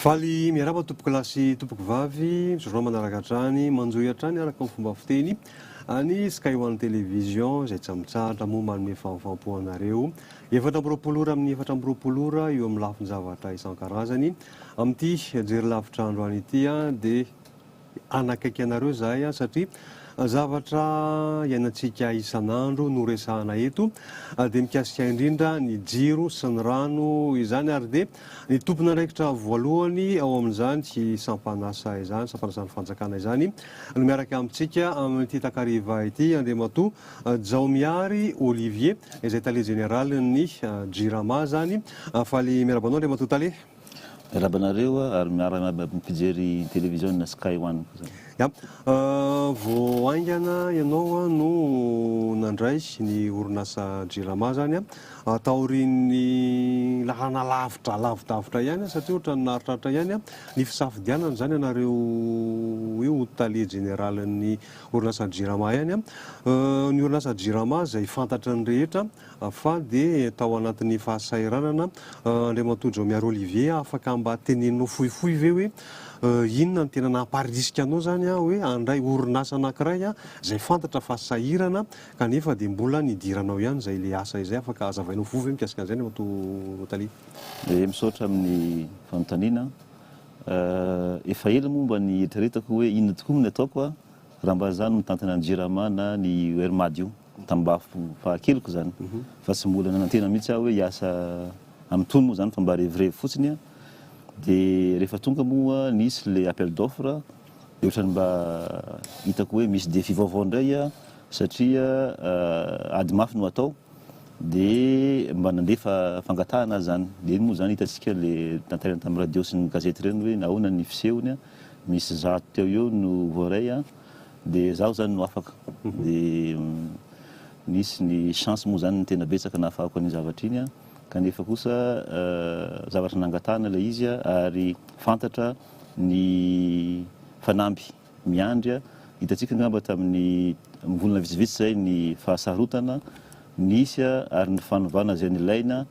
Faly miarahaba tompoko lahy sy tompoko vavy, misaotra manaraka hatrany, manjohy hatrany araka ny fomba fiteny any Sky One Television izay tsy mitsahatra moa manome fahamfampo anareo. Efatra amby roapolo ora amin'ny efatra amby roapolo ora eo amin'ny lafin-javatra isan-karazany. Amin'ity jery lavitra andro any ity dia hanakaiky anareo izahay satria zavatra iainantsika isan'andro no resahana eto dia mikasika indrindra ny jiro sy ny rano izany ary dia ny tompon'andraikitra voalohany ao amin'izany sampan'asa izany, sampan'asan'ny fanjakana izany no miaraka amintsika amin'ity takariva ity Andriamatoa Jaomiary Olivier izay tale jeneralin'ny Jirama zany. Faly miarahaba anao Andriamatoa Tale. Miarahaba anareo ary miaramiaba amin'ny mpijery television Sky One koa zany. Ya. Vao haingana ianao no nandray ny orinasa Jirama zany taorian'ny lalana lavitra lavidavitra ihany satria ohatran'ny naharitraritra ihany ny fisafidianana zany anareo io ho tale jeneralin'ny Orinasan'ny Jirama ihany an! Ny orinasan'ny Jirama izay fantatry ny rehetra fa dia tao anatin'ny fahasahiranana Andriamatoa Jaomiary Olivier, afaka mba teneninao fohifohy ve hoe inona no tena namparisika anao izany hoe handray orinasa anankiray izay fantatra fa sahirana kanefa dia mbola nidiranao ihany izay ilay asa izay? Afaka azavainao fohy ve mikasika an'izay Andriamatoa Tale? Misaotra amin'ny fanontaniana. Efa ela moa mba nieritreretako hoe inona tokoa moa ny ataoko raha mba za no mitantana ny Jirama na ny Wermad io, tambafo faha keliko zany, fa tsy mbola nanantena mihitsy aho hoe hiasa amin'itony moa zany fa mba revirevy fotsiny, de rehefa tonga moa nisy le appel d'offre de otrany mba hitako hoe misy défi vaovao indray satria ady mafy no atao Dia mba nandefa fangatahana aza zany. Dia iny moa zany hitantsika le tantaraina tamin'ny radio sy ny gazety ireny hoe nahoana ny fisehony, misy zato teo eo no voaray dia zaho zany no afaka. Dia nisy ny chance moa zany ny tena betsaka nahafahako an'iny zavatra iny kanefa kosa zavatra nangatahana ilay izy ary fantatra ny fanamby. miandry a! Hitantsika angamba tamin'ny volana vitsivitsy izay ny fahasarotana nisy a! ary ny fanovana izay nilaina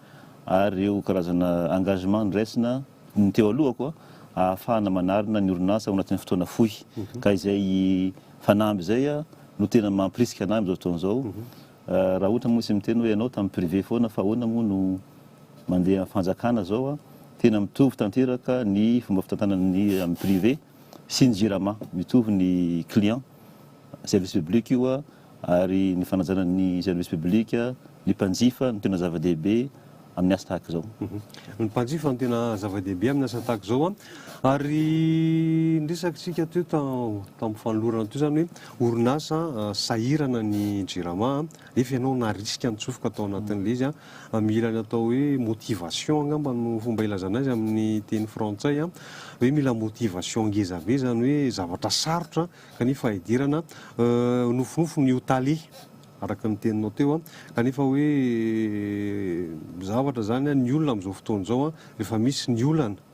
ary ireo karazana engagement noraisina ny teo alohako a! ahafahana manarina ny orinasa ao anatin'ny fotoana fohy. Ka izay fanamby izay a! no tena mampirisika anay amin'izao fotoana izao. Raha ohatra moa isika miteny hoe ianao tamin'ny privé foana fa ahoana moa no mandeha amin'ny fanjakana izao a! tena mitovy tanteraka ny fomba fitantanana ny amin'ny privé. sy ny jirama mitovy ny client, service public io ary ny fanajana ny service public, ny mpanjifa no tena zava-dehibe amin'ny asa tahaka izao. Ny mpanjifa no tena zava-dehibe amin'ny asa tahaka izao ary ny resakitsika teo tamin'ny fanolorana teo izany hoe orinasa sahirana ny jirama nefa ianao narisika nitsofoka tao anatin'ilay izy Mila ny atao hoe motivation angamba no fomba ilazana azy amin'ny teny frantsay an, hoe mila motivation ngeza be izany hoe zavatra sarotra kanefa idirana, nofinofy ny ho tale araka ny teninao teo an, kanefa hoe zavatra izany an, ny olona amin'izao fotoana izao an, rehefa misy ny olana.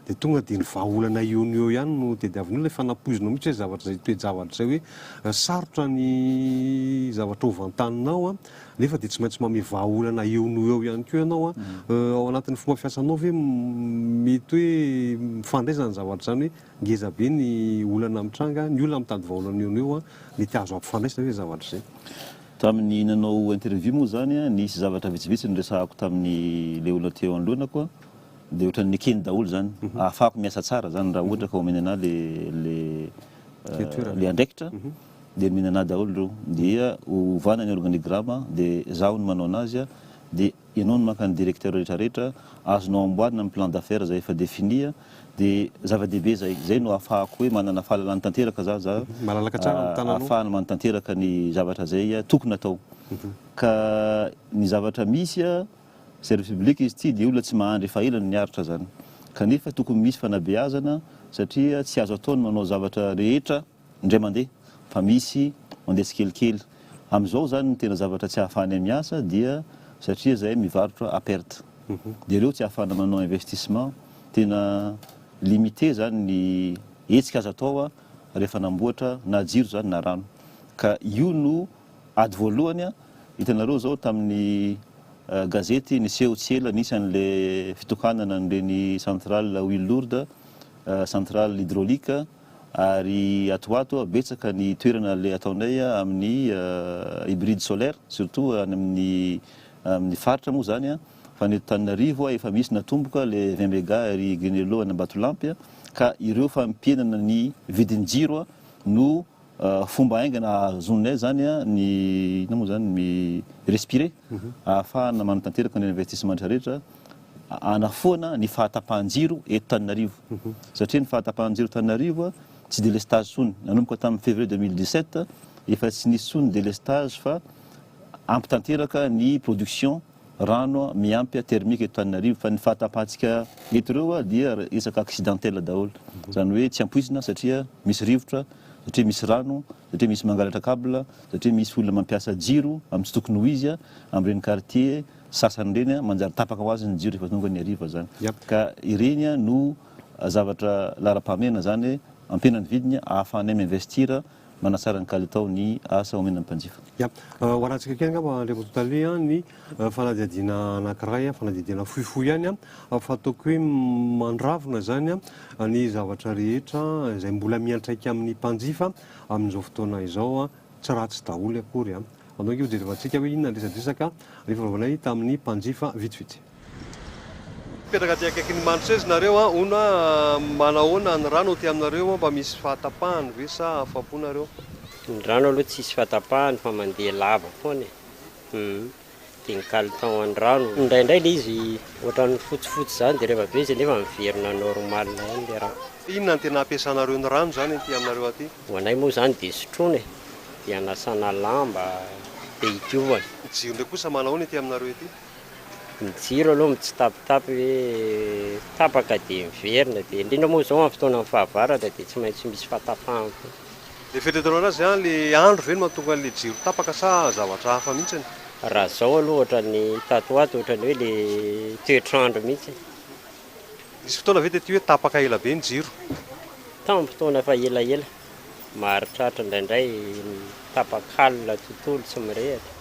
Dia tonga dia ny vahaolana eo no eo ihany no tediavin'olona, efa nampoizinao mihitsy hoe zavatra izay toe-javatra izay hoe sarotra ny zavatra ho vantaninao nefa dia tsy maintsy manome vahaolana eo no eo ihany koa ianao. Ao anatin'ny fomba fiasanao ve mety hoe mifandray izany zavatra izany hoe ngeza be ny olana mitranga, ny olona mitady vahaolana eo no eo mety azo ampifandraisina ve izay zavatra izay? Tamin'ny nanao interview moa izany, nisy zavatra vitsivitsy noresahako tamin'ilay olona teo anoloanako. Dia ohatran'ny nekeny daholo izany. Ahafahako miasa tsara izany raha ohatra ka omeny anà ilay andraikitra, dia omeny anà daholo ireo. Dia ovana ny organigrama, dia izaho no manao an'azy, dia ianao no maka ny directeur rehetrarehetra, azonao amboarina ny plan d'affaires izay efa défini, dia zava-dehibe izay. Izay no ahafahako hoe manana fahalalana tanteraka izaho, ahafahana manatanteraka ny zavatra izay tokony atao. Ka ny zavatra misy. Service public izy ity dia olona tsy mahandry efa ela no niaritra zany. Kanefa tokony misy fanabeazana satria tsy azo atao ny manao zavatra rehetra indray mandeha fa misy mandeha tsikelikely. Amizao zany ny tena zavatra tsy ahafahanay miasa dia satria zahay mivarotra à perte. Dia reo tsy ahafahana manao investissement. Tena limite zany ny hetsika azo atao rehefa anamboatra na jiro zany na rano. Ka io no Ady voalohany an! Hitanareo izao tamin'ny gazety niseho tsy ela nisy an'le fitohanana an'ireny centrale à huile lourde, centrale hydraulique, ary ato ho ato betsaka ny toerana le ataonay amin'ny hybride solaire, surtout any amin'ny amin'ny faritra moa izany an! Fa ny eto Tananarivo efa misy natomboka le vingt mega ery Grinello any Ambatolampy ka ireo fampihenana ny vidin-jiro no Fomba haingana ahazoanay izany ny inona moa izany, mi respirer, ahafahana manatanteraka ny investissementra rehetra hanafoana ny fahatapahan-jiro eto Tananarivo. Satria ny fahatapahan-jiro eto Tananarivo tsy délestage intsony. Nanomboka tamin'ny février 2017, efa tsy nisy intsony ny délestage fa ampy tanteraka ny production. rano miampy thermique eto Antananarivo fa ny fahatapahantsika eto ireo dia resaka accidentel daholo izany hoe tsy ampoizina satria misy rivotra, satria misy rano, satria misy mangalatra cable, satria misy olona mampiasa jiro amin'ny tsy tokony ho izy amin'ireny quartier sasany ireny manjary tapaka ho azy ny jiro rehefa tonga ny hariva izany ka ireny no zavatra laharam-pahamehana izany ampiana ny vidiny ahafahanay mi-investir Manatsara ny kalitao ny asa omena ny mpanjifa. Ya. Ho arahantsika kely angamba Andriamatoa Tale an, ny fanadihadiana anankiray, fanadihadiana fohifohy ihany an, fa ataoko hoe mandravona izany an, ny zavatra rehetra izay mbola miantraika amin'ny mpanjifa amin'izao fotoana izao an, tsy ratsy daholo akory an. Andao ange hojerevantsika hoe inona ny resadresaka nifanaovanay tamin'ny mpanjifa vitsivitsy. Mipetraka aty akaikin'i Mandrosoa izy nareo an! hono an! manahoana ny rano aty aminareo an! mba misy fahatapahany ve sa afa-po nareo? Ny rano aloha tsisy fahatapahany fa mandeha lava foana e! hum! dia ny caleton an'ny rano, indraindray ilay izy ohatran'ny fotsifotsy izany dia rehefa be izy anefa miverina normal ihany ilay rano. Inona no tena ampiasanareo ny rano izany aty aminareo aty? Ho anay moa izany dia sotroina e! dia anasana lamba, dia hidiovana. Ny jiro indray kosa manahoana ety aminareo ety? Ny jiro aloha mitsitapitapy hoe tapaka dia miverina, dia indrindra moa izao amin'ny fotoanan'ny fahavaratra dia tsy maintsy misy fahatapahan koa. Le fetretanao anazy an le andro ve no mahatonga anle jiro tapaka sa zavatra hafa mihitsiny? Raha zao aloha ohatran'ny tato ho ato ohatran'ny hoe le toetr'andro mihitsy. Nisy fotoana ve tety hoe tapaka ela be ny jiro? Tamin'ny fotoana efa elaela. Maharitraritra indraindray tapak'alina tontolo tsy mirehatra.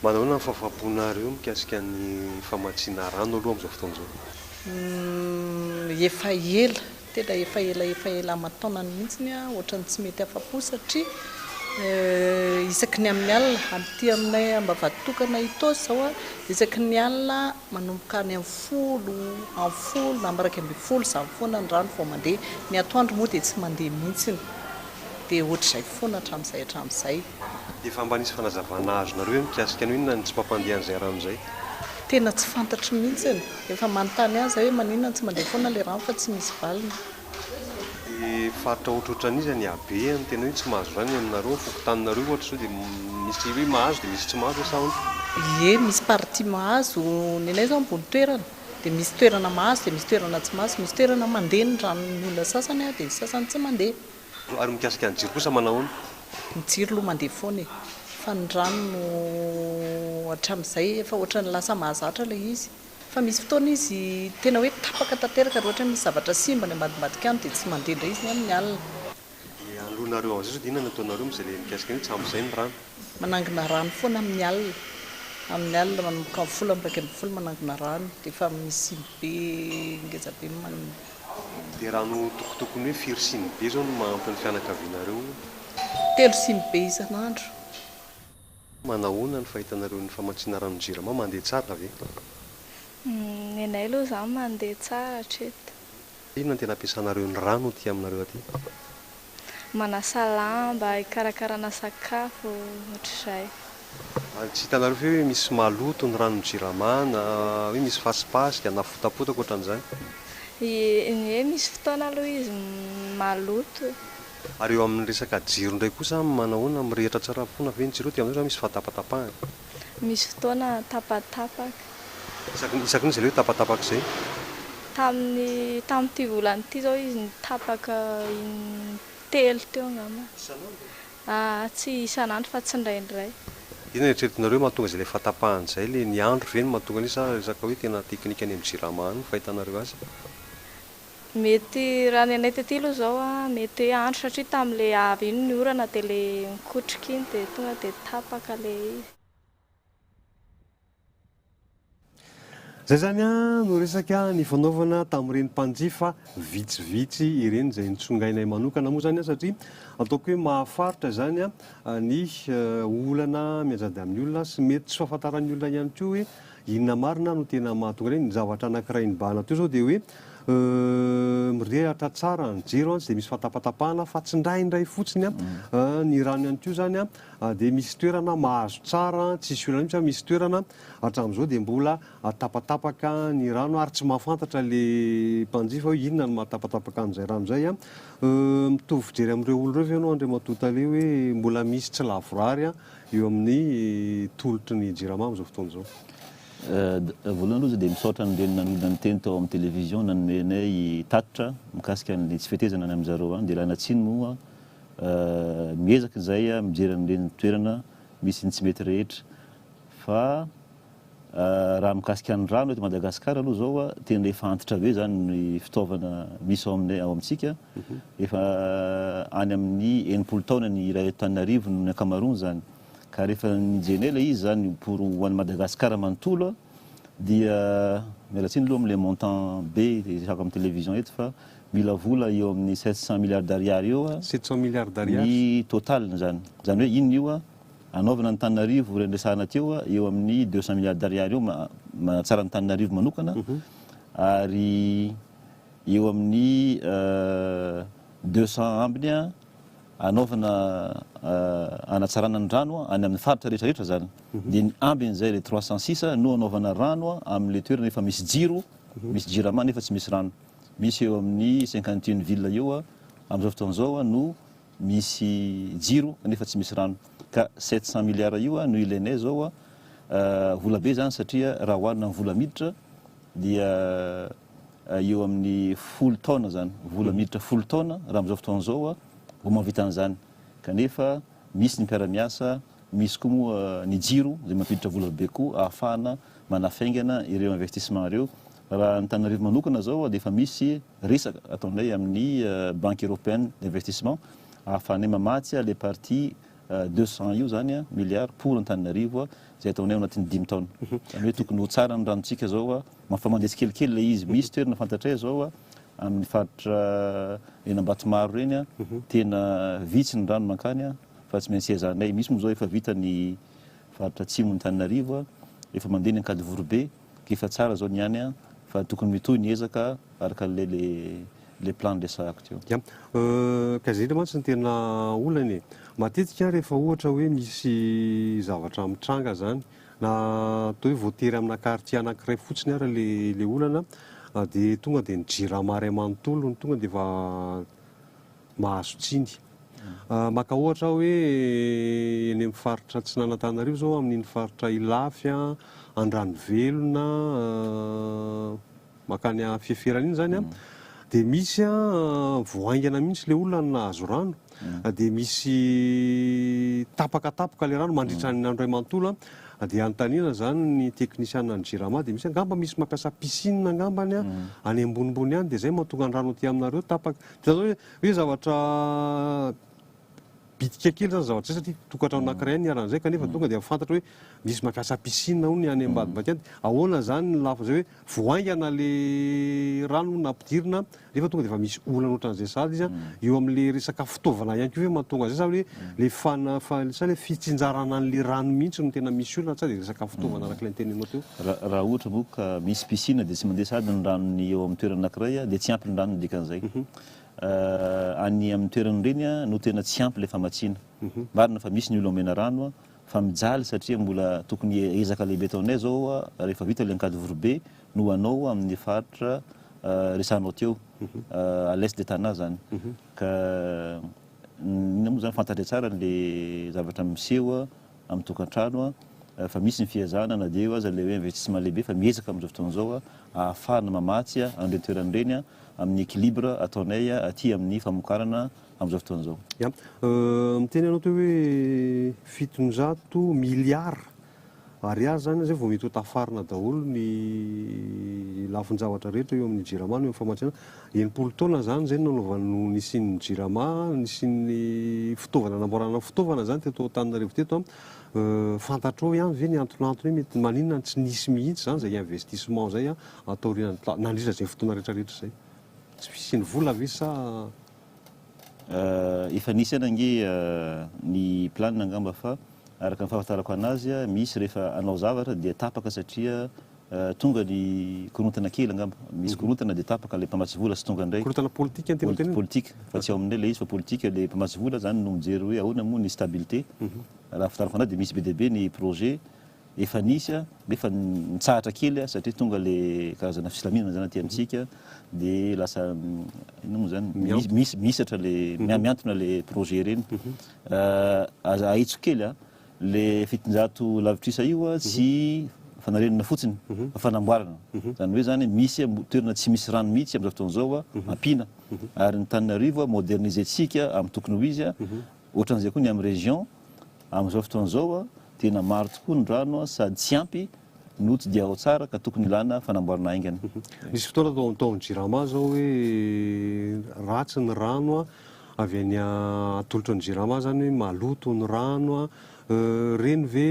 Manahoana ny fahafahamponareo mikasika ny famatsiana rano aloha amin'izao fotoana izao? Efa ela, tena efa ela efa ela aman-taonany mihitsy ny aho ohatran'ny tsy mety afa-po satria isaky ny amin'ny alina, amin'ity aminay Ambavatokana Itaosy izao a, isaky ny alina manomboka any amin'ny folo, amin'ny folo na iraika ambin'ny folo izany foana ny rano vao mandeha. Ny atoandro moa dia tsy mandeha mihitsy, dia ohatr'izay foana hatramin'izay hatramin'izay. Efa mba nisy fanazavana azonareo ve mikasika ny hoe inona ny tsy mampandeha an'izay rano izay? Tena tsy fantatro mihitsiny. Efa manontany ahy zay hoe maninona no tsy mandeha foana le rano fa tsy misy valiny. Dia faritra ohatrohatran'iza ny habeany tena hoe tsy mahazo rano eny aminareo, ny fokontaninareo ohatra sao dia misy hoe mahazo dia misy tsy mahazo ve sa ahoana? Ie, misy partie mahazo, ny anay izao ambony toerana dia misy toerana mahazo dia misy toerana tsy mahazo, misy toerana mandeha ny ranon'ny olona sasany dia ny sasany tsy mandeha. Ary mikasika ny jiro kosa manahoana? Ny jiro aloha mandeha foana e! Fa ny rano no hatramin'izay efa ohatran'ny lasa mahazatra ilay izy. Fa misy fotoana izy tena hoe tapaka tanteraka raha ohatra hoe misy zavatra simba any ambadimbadika any dia tsy mandeha indray izy ny amin'ny alina. Dia hanoloanareo an'izay sao dia inona no ataonareo amin'izay ilay mikasika an'io tsy ampy izay ny rano? Manangona rano foana amin'ny alina. Amin'ny alina manomboka amin'ny folo amby iraika ambin'ny folo manangona rano dia efa misy simy be ngeza be man. Dia raha notokotoko ny hoe firy siny be izao no mahampy ny fianakavianareo ho. Telo siny be isan'andro. Manahoana ny fahitanareo ny famatsiana ranon'ny Jirama, mandeha tsara ve? Ny anay aloha izany mandeha tsara hatreto. Inona no tena ampiasanareo ny rano aty aminareo aty? manasa lamba, hikarakarana sakafo, ohatr'izay. Ary tsy hitanareo ve hoe misy maloto ny ranon'ny Jirama na hoe misy fasipasika na fotapotaka ohatran'izany? Ie, misy fotoana aloha izy maloto. Ary eo amin'ny resaka jiro indray kosa manahoana? Mirehitra tsara foana ve ny jiro ao? Dia amin'izay izany misy fahatapatapahana? misy fotoana tapatapaka. Isaky ny isaky ny izy ireo tapatapaka izay? Tamin'ny tamin'ity volana ity izao izy nitapaka in-telo teo angamba. Isan'andro? Aa tsy isan'andro fa tsindraindray. Dia inona no eritreretinareo hoe mahatonga izay ilay fahatapahany izay? Ilay ny andro ve no mahatonga an'io sa resaka hoe tena teknika any amin'ny jirama any no fahitanareo azy? Mety raha ny anay tety aloha zao a, mety hoe andro satria tamle avy iny ny orana de le mikotrika iny de tonga de tapaka le izy. Zay zany a no resaka nifanaovana tamin'ireny mpanjifa vitsivitsy ireny izay nitsongainay manokana moa zany a satria ataoko hoe mahafaritra izany a ny olana mianjady amin'ny olona sy mety tsy fahafantaran'ny olona ihany koa hoe Inona marina no tena mahatonga an'iny? Ny zavatra anankiray nibahana teo izao dia hoe mirehatra tsara ny jiro an, tsy dia misy fatapatapahana fa tsindraindray fotsiny an, ny rano ihany koa izany an, dia misy toerana mahazo tsara an, tsisy olana mihitsy fa misy toerana hatramin'izao dia mbola tapatapaka ny rano ary tsy mahafantatra ilay mpanjifa hoe inona no mahatapatapaka an'izay rano izay an. Mitovy fijery amin'ireo olona ireo ve ianao Andriamatoa Tale hoe mbola misy tsy lavorary an, eo amin'ny tolotry ny Jirama amin'izao fotoana izao. Voalohany aloha dia misaotra an'ireny nanonona ny teny tao amin'ny télévision nanome anay tatitra mikasika ny tsy fetezana any amin'zareo any dia ilana tsiny moa miezaka izay mijery an'ireny toerana misy ny tsy mety rehetra fa Raha mikasika ny rano eto Madagasikara aloha izao tena efa antitra be izany ny fitaovana misy ao aminay ao amintsika. Efa any amin'ny enimpolo taona ny iray eto Antananarivo ny ankamaroany izany. Ka rehefa nijerenay ilay izy izany pour ho an'i Madagasikara manontolo dia miala tsiny aloha amin'ilay montant be resahako amin'ny télévision eto fa mila vola eo amin'ny sept cent milliards d'ariary eo ny total-ny izany. Izany hoe inona io? hanaovana an'Antananarivo ireny resahana teo eo amin'ny deux cent milliards d'ariary eo manatsara an'Antananarivo manokana ary eo amin'ny deux cent ambiny hanaovana hanatsarana ny rano any amin'ny faritra rehetra rehetra zany dia ny ambiny izay le trois cent six no hanaovana rano amin'le toerana efa misy jiro misy jirama nefa tsy misy rano misy eo amin'ny cinquante et une ville eo amin'izao fotoana izao no misy jiro nefa tsy misy rano ka sept cent milliards io no ilainay izao a, vola be izany satria raha oharina amin'ny vola miditra dia eo amin'ny folo taona izany, vola miditra folo taona raha amin'izao fotoana izao a vao mahavita an'izany kanefa misy ny mpiara-miasa, misy koa moa ny jiro izay mampiditra vola be koa ahafahana manafaingana ireo investissement ireo. Raha ny Antananarivo manokana izao dia efa misy resaka ataonay amin'ny Banque Européenne d'Investissement ahafahanay mamatsy ilay partie deux cents io izany milliards pour Antananarivo izay ataonay ao anatin'ny dimy taona. Izany hoe tokony ho tsara ny ranontsika izao, efa mandeha tsikelikely ilay izy. Misy toerana fantatray izao amin'ny faritra eny Ambatomaro ireny tena vitsy ny rano mankany fa tsy maintsy ezahana. Misy moa izao efa vita ny faritra atsimon'Antananarivo, efa mandeha ny Ankadivorobe. Efa tsara zao ny any an, fa tokony mitohy ny ezaka araka le le plan niresahako teo. Ya, ka zay le mantsy ny tena olana e. Matetika rehefa ohatra hoe misy zavatra mitranga zany, na atao hoe voatery amina quartier anakiray fotsiny ara le le olana, dia tonga dia ny jirama ray manontolo no tonga dia efa, mahazo tsiny. Maka ohatra aho hoe eny amin'ny faritra Atsinanantanarivo izao amin'iny faritra Ilafy, Andranovelona, mankany Afiaferana iny izany dia misy vao haingana mihitsy ilay olona no nahazo rano dia misy tapaka tapaka ilay rano mandritra ny andro iray manontolo dia anontaniana izany ny teknisianina ny Jirama dia misy angamba misy mampiasa piscine angambany any ambonimbony any dia izay mahatonga ny rano aty aminareo tapaka. Zany hoe hoe zavatra bitika kely zany zavatra zay satria tokantrano anankiray ihany niharan'izay kanefa tonga dia fantatra hoe misy mampiasa piscine hono any Ambatomaika any. Ahoana izany ny lafiny izay hoe vao haingana le rano hono nampidirina nefa tonga dia efa misy olana ohatran'izay sahaza izy a. Eo amin'ilay resaka fitaovana ihany koa ve mahatonga an'izay sa hoe Ilay fana, fa, sa ilay fitsinjarana an'ilay rano mihitsy no tena misy olana sa dia resaka fitaovana araka ilay nitenenao teo? Raha, raha ohatra moa ka misy piscine dia tsy mandeha sahady ny ranony eo amin'ny toerana anankiray dia tsy ampy ny rano no dikan'izay. Any amin'ny toerana ireny no tena tsy ampy ilay famatsiana. Marina fa misy ny olona omena rano fa mijaly satria mbola tokony ezaka lehibe ataonay izao rehefa vita ilay Ankady Vorobe no hanao amin'ny faritra resahanao teo, à l'est de Tana izany. Ka. Inona moa izany fantatray tsara an'ilay zavatra miseho amin'ny tokantrano fa misy ny fihazana na dia eo aza ilay hoe investissement lehibe fa miezaka amin'izao fotoana izao ahafahana mamatsy an'ireny toerana ireny amin'ny équilibre ataonay aty amin'ny famokarana amin'izao fotoana izao. Ya. Miteny ianao teo hoe fitonjato milliards Ariary izany izay vao mety ho tafarina daholo ny lafin-javatra rehetra eo amin'ny Jirama no eo amin'ny famatsiana. Enimpolo taona izany izay no nanaovana no nisian'ny Jirama, nisian'ny fitaovana namboarana fitaovana izany teto Antananarivo teto. Fantatrao ihany ve ny antonantony hoe mety maninona no tsy nisy mihitsy izany izay investissement izay taorian'ny, nandritra izay fotoana rehetrarehetra izay? Tsy fisian'ny vola ve sa Efa nisy ihany ange ny plan angamba fa araka ny fahafantarako anazy misy rehefa hanao zavatra dia tapaka satria tonga ny korontana kely angamba misy korontana dia tapaka ilay mpamatsy vola sy tonga indray korontana politika ny tena tena politika fa tsy ao aminay ilay izy fa politika ilay mpamatsy vola izany no mijery hoe ahoana moa ny stabilité raha ny fahafantarako anazy dia misy be dia be ny projet Efa nisy a, nefa nitsahatra kely a, satria tonga le karazana fisilamiana zany aty amintsika, de lasa inona moa zany, mis- mis- mihisatra le, mia- mihantona le projet ireny. Ah, aza ahitsiko kely a, le fitonjato lavitrisa io a, tsy fanarenana fotsiny, fa fanamboarana. Zany hoe zany, misy a, mo- toerana tsy misy rano mihitsy am'zao fotoana zao a, ampiana. Ary ny tanin'arivo a, moderniser-tsika amin'ny tokony ho izy a, Ohatran'izay koa ny amin'ny région, amin'izao fotoana izao tena maro tokoa ny rano sady tsy ampy no tsy dia ao tsara ka tokony ilana fanamboarana haingana. Nisy fotoana tao tao amin'ny Jirama izao hoe ratsy ny rano avy any atolotra ny Jirama izany hoe maloto ny rano an, ireny ve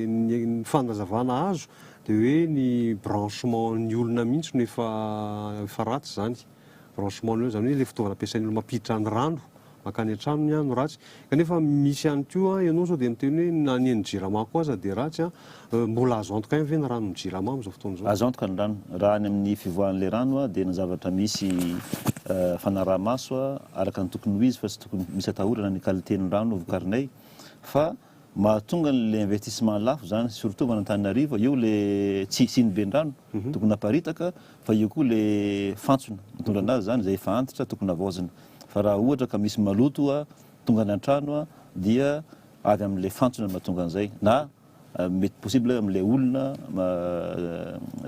ny fanazavana azo dia hoe ny branchement ny olona mihitsy no efa efa ratsy izany. Branchement nul, izany hoe ilay fitaovana ampiasain'ny olona mampiditra ny rano mankany an-tranony no ratsy. Kanefa misy ihany koa, ianao sao dia miteny hoe na ny an'ny Jirama koa aza dia ratsy. Mbola azo antoka ihany ve ny ranon'ny Jirama amin'izao fotoana izao? Azo antoka ny rano. Raha ny amin'ny fivoahan'ilay rano dia ny zavatra misy fanaraha-maso araka ny tokony ho izy fa tsy tokony misy atahorana ny qualité-n'ny rano vokarinay fa Mahatonga ny le investissement lafo izany surtout avy any Antananarivo, io le tsy hisian'ny vendrano tokony haparitaka fa io koa le fantsona mitondra anazy izany izay efa antitra tokony havaozina fa raha ohatra ka misy maloto tonga any antrano dia avy amin'le fantsona no mahatonga an'izay na mety possible amin'le olona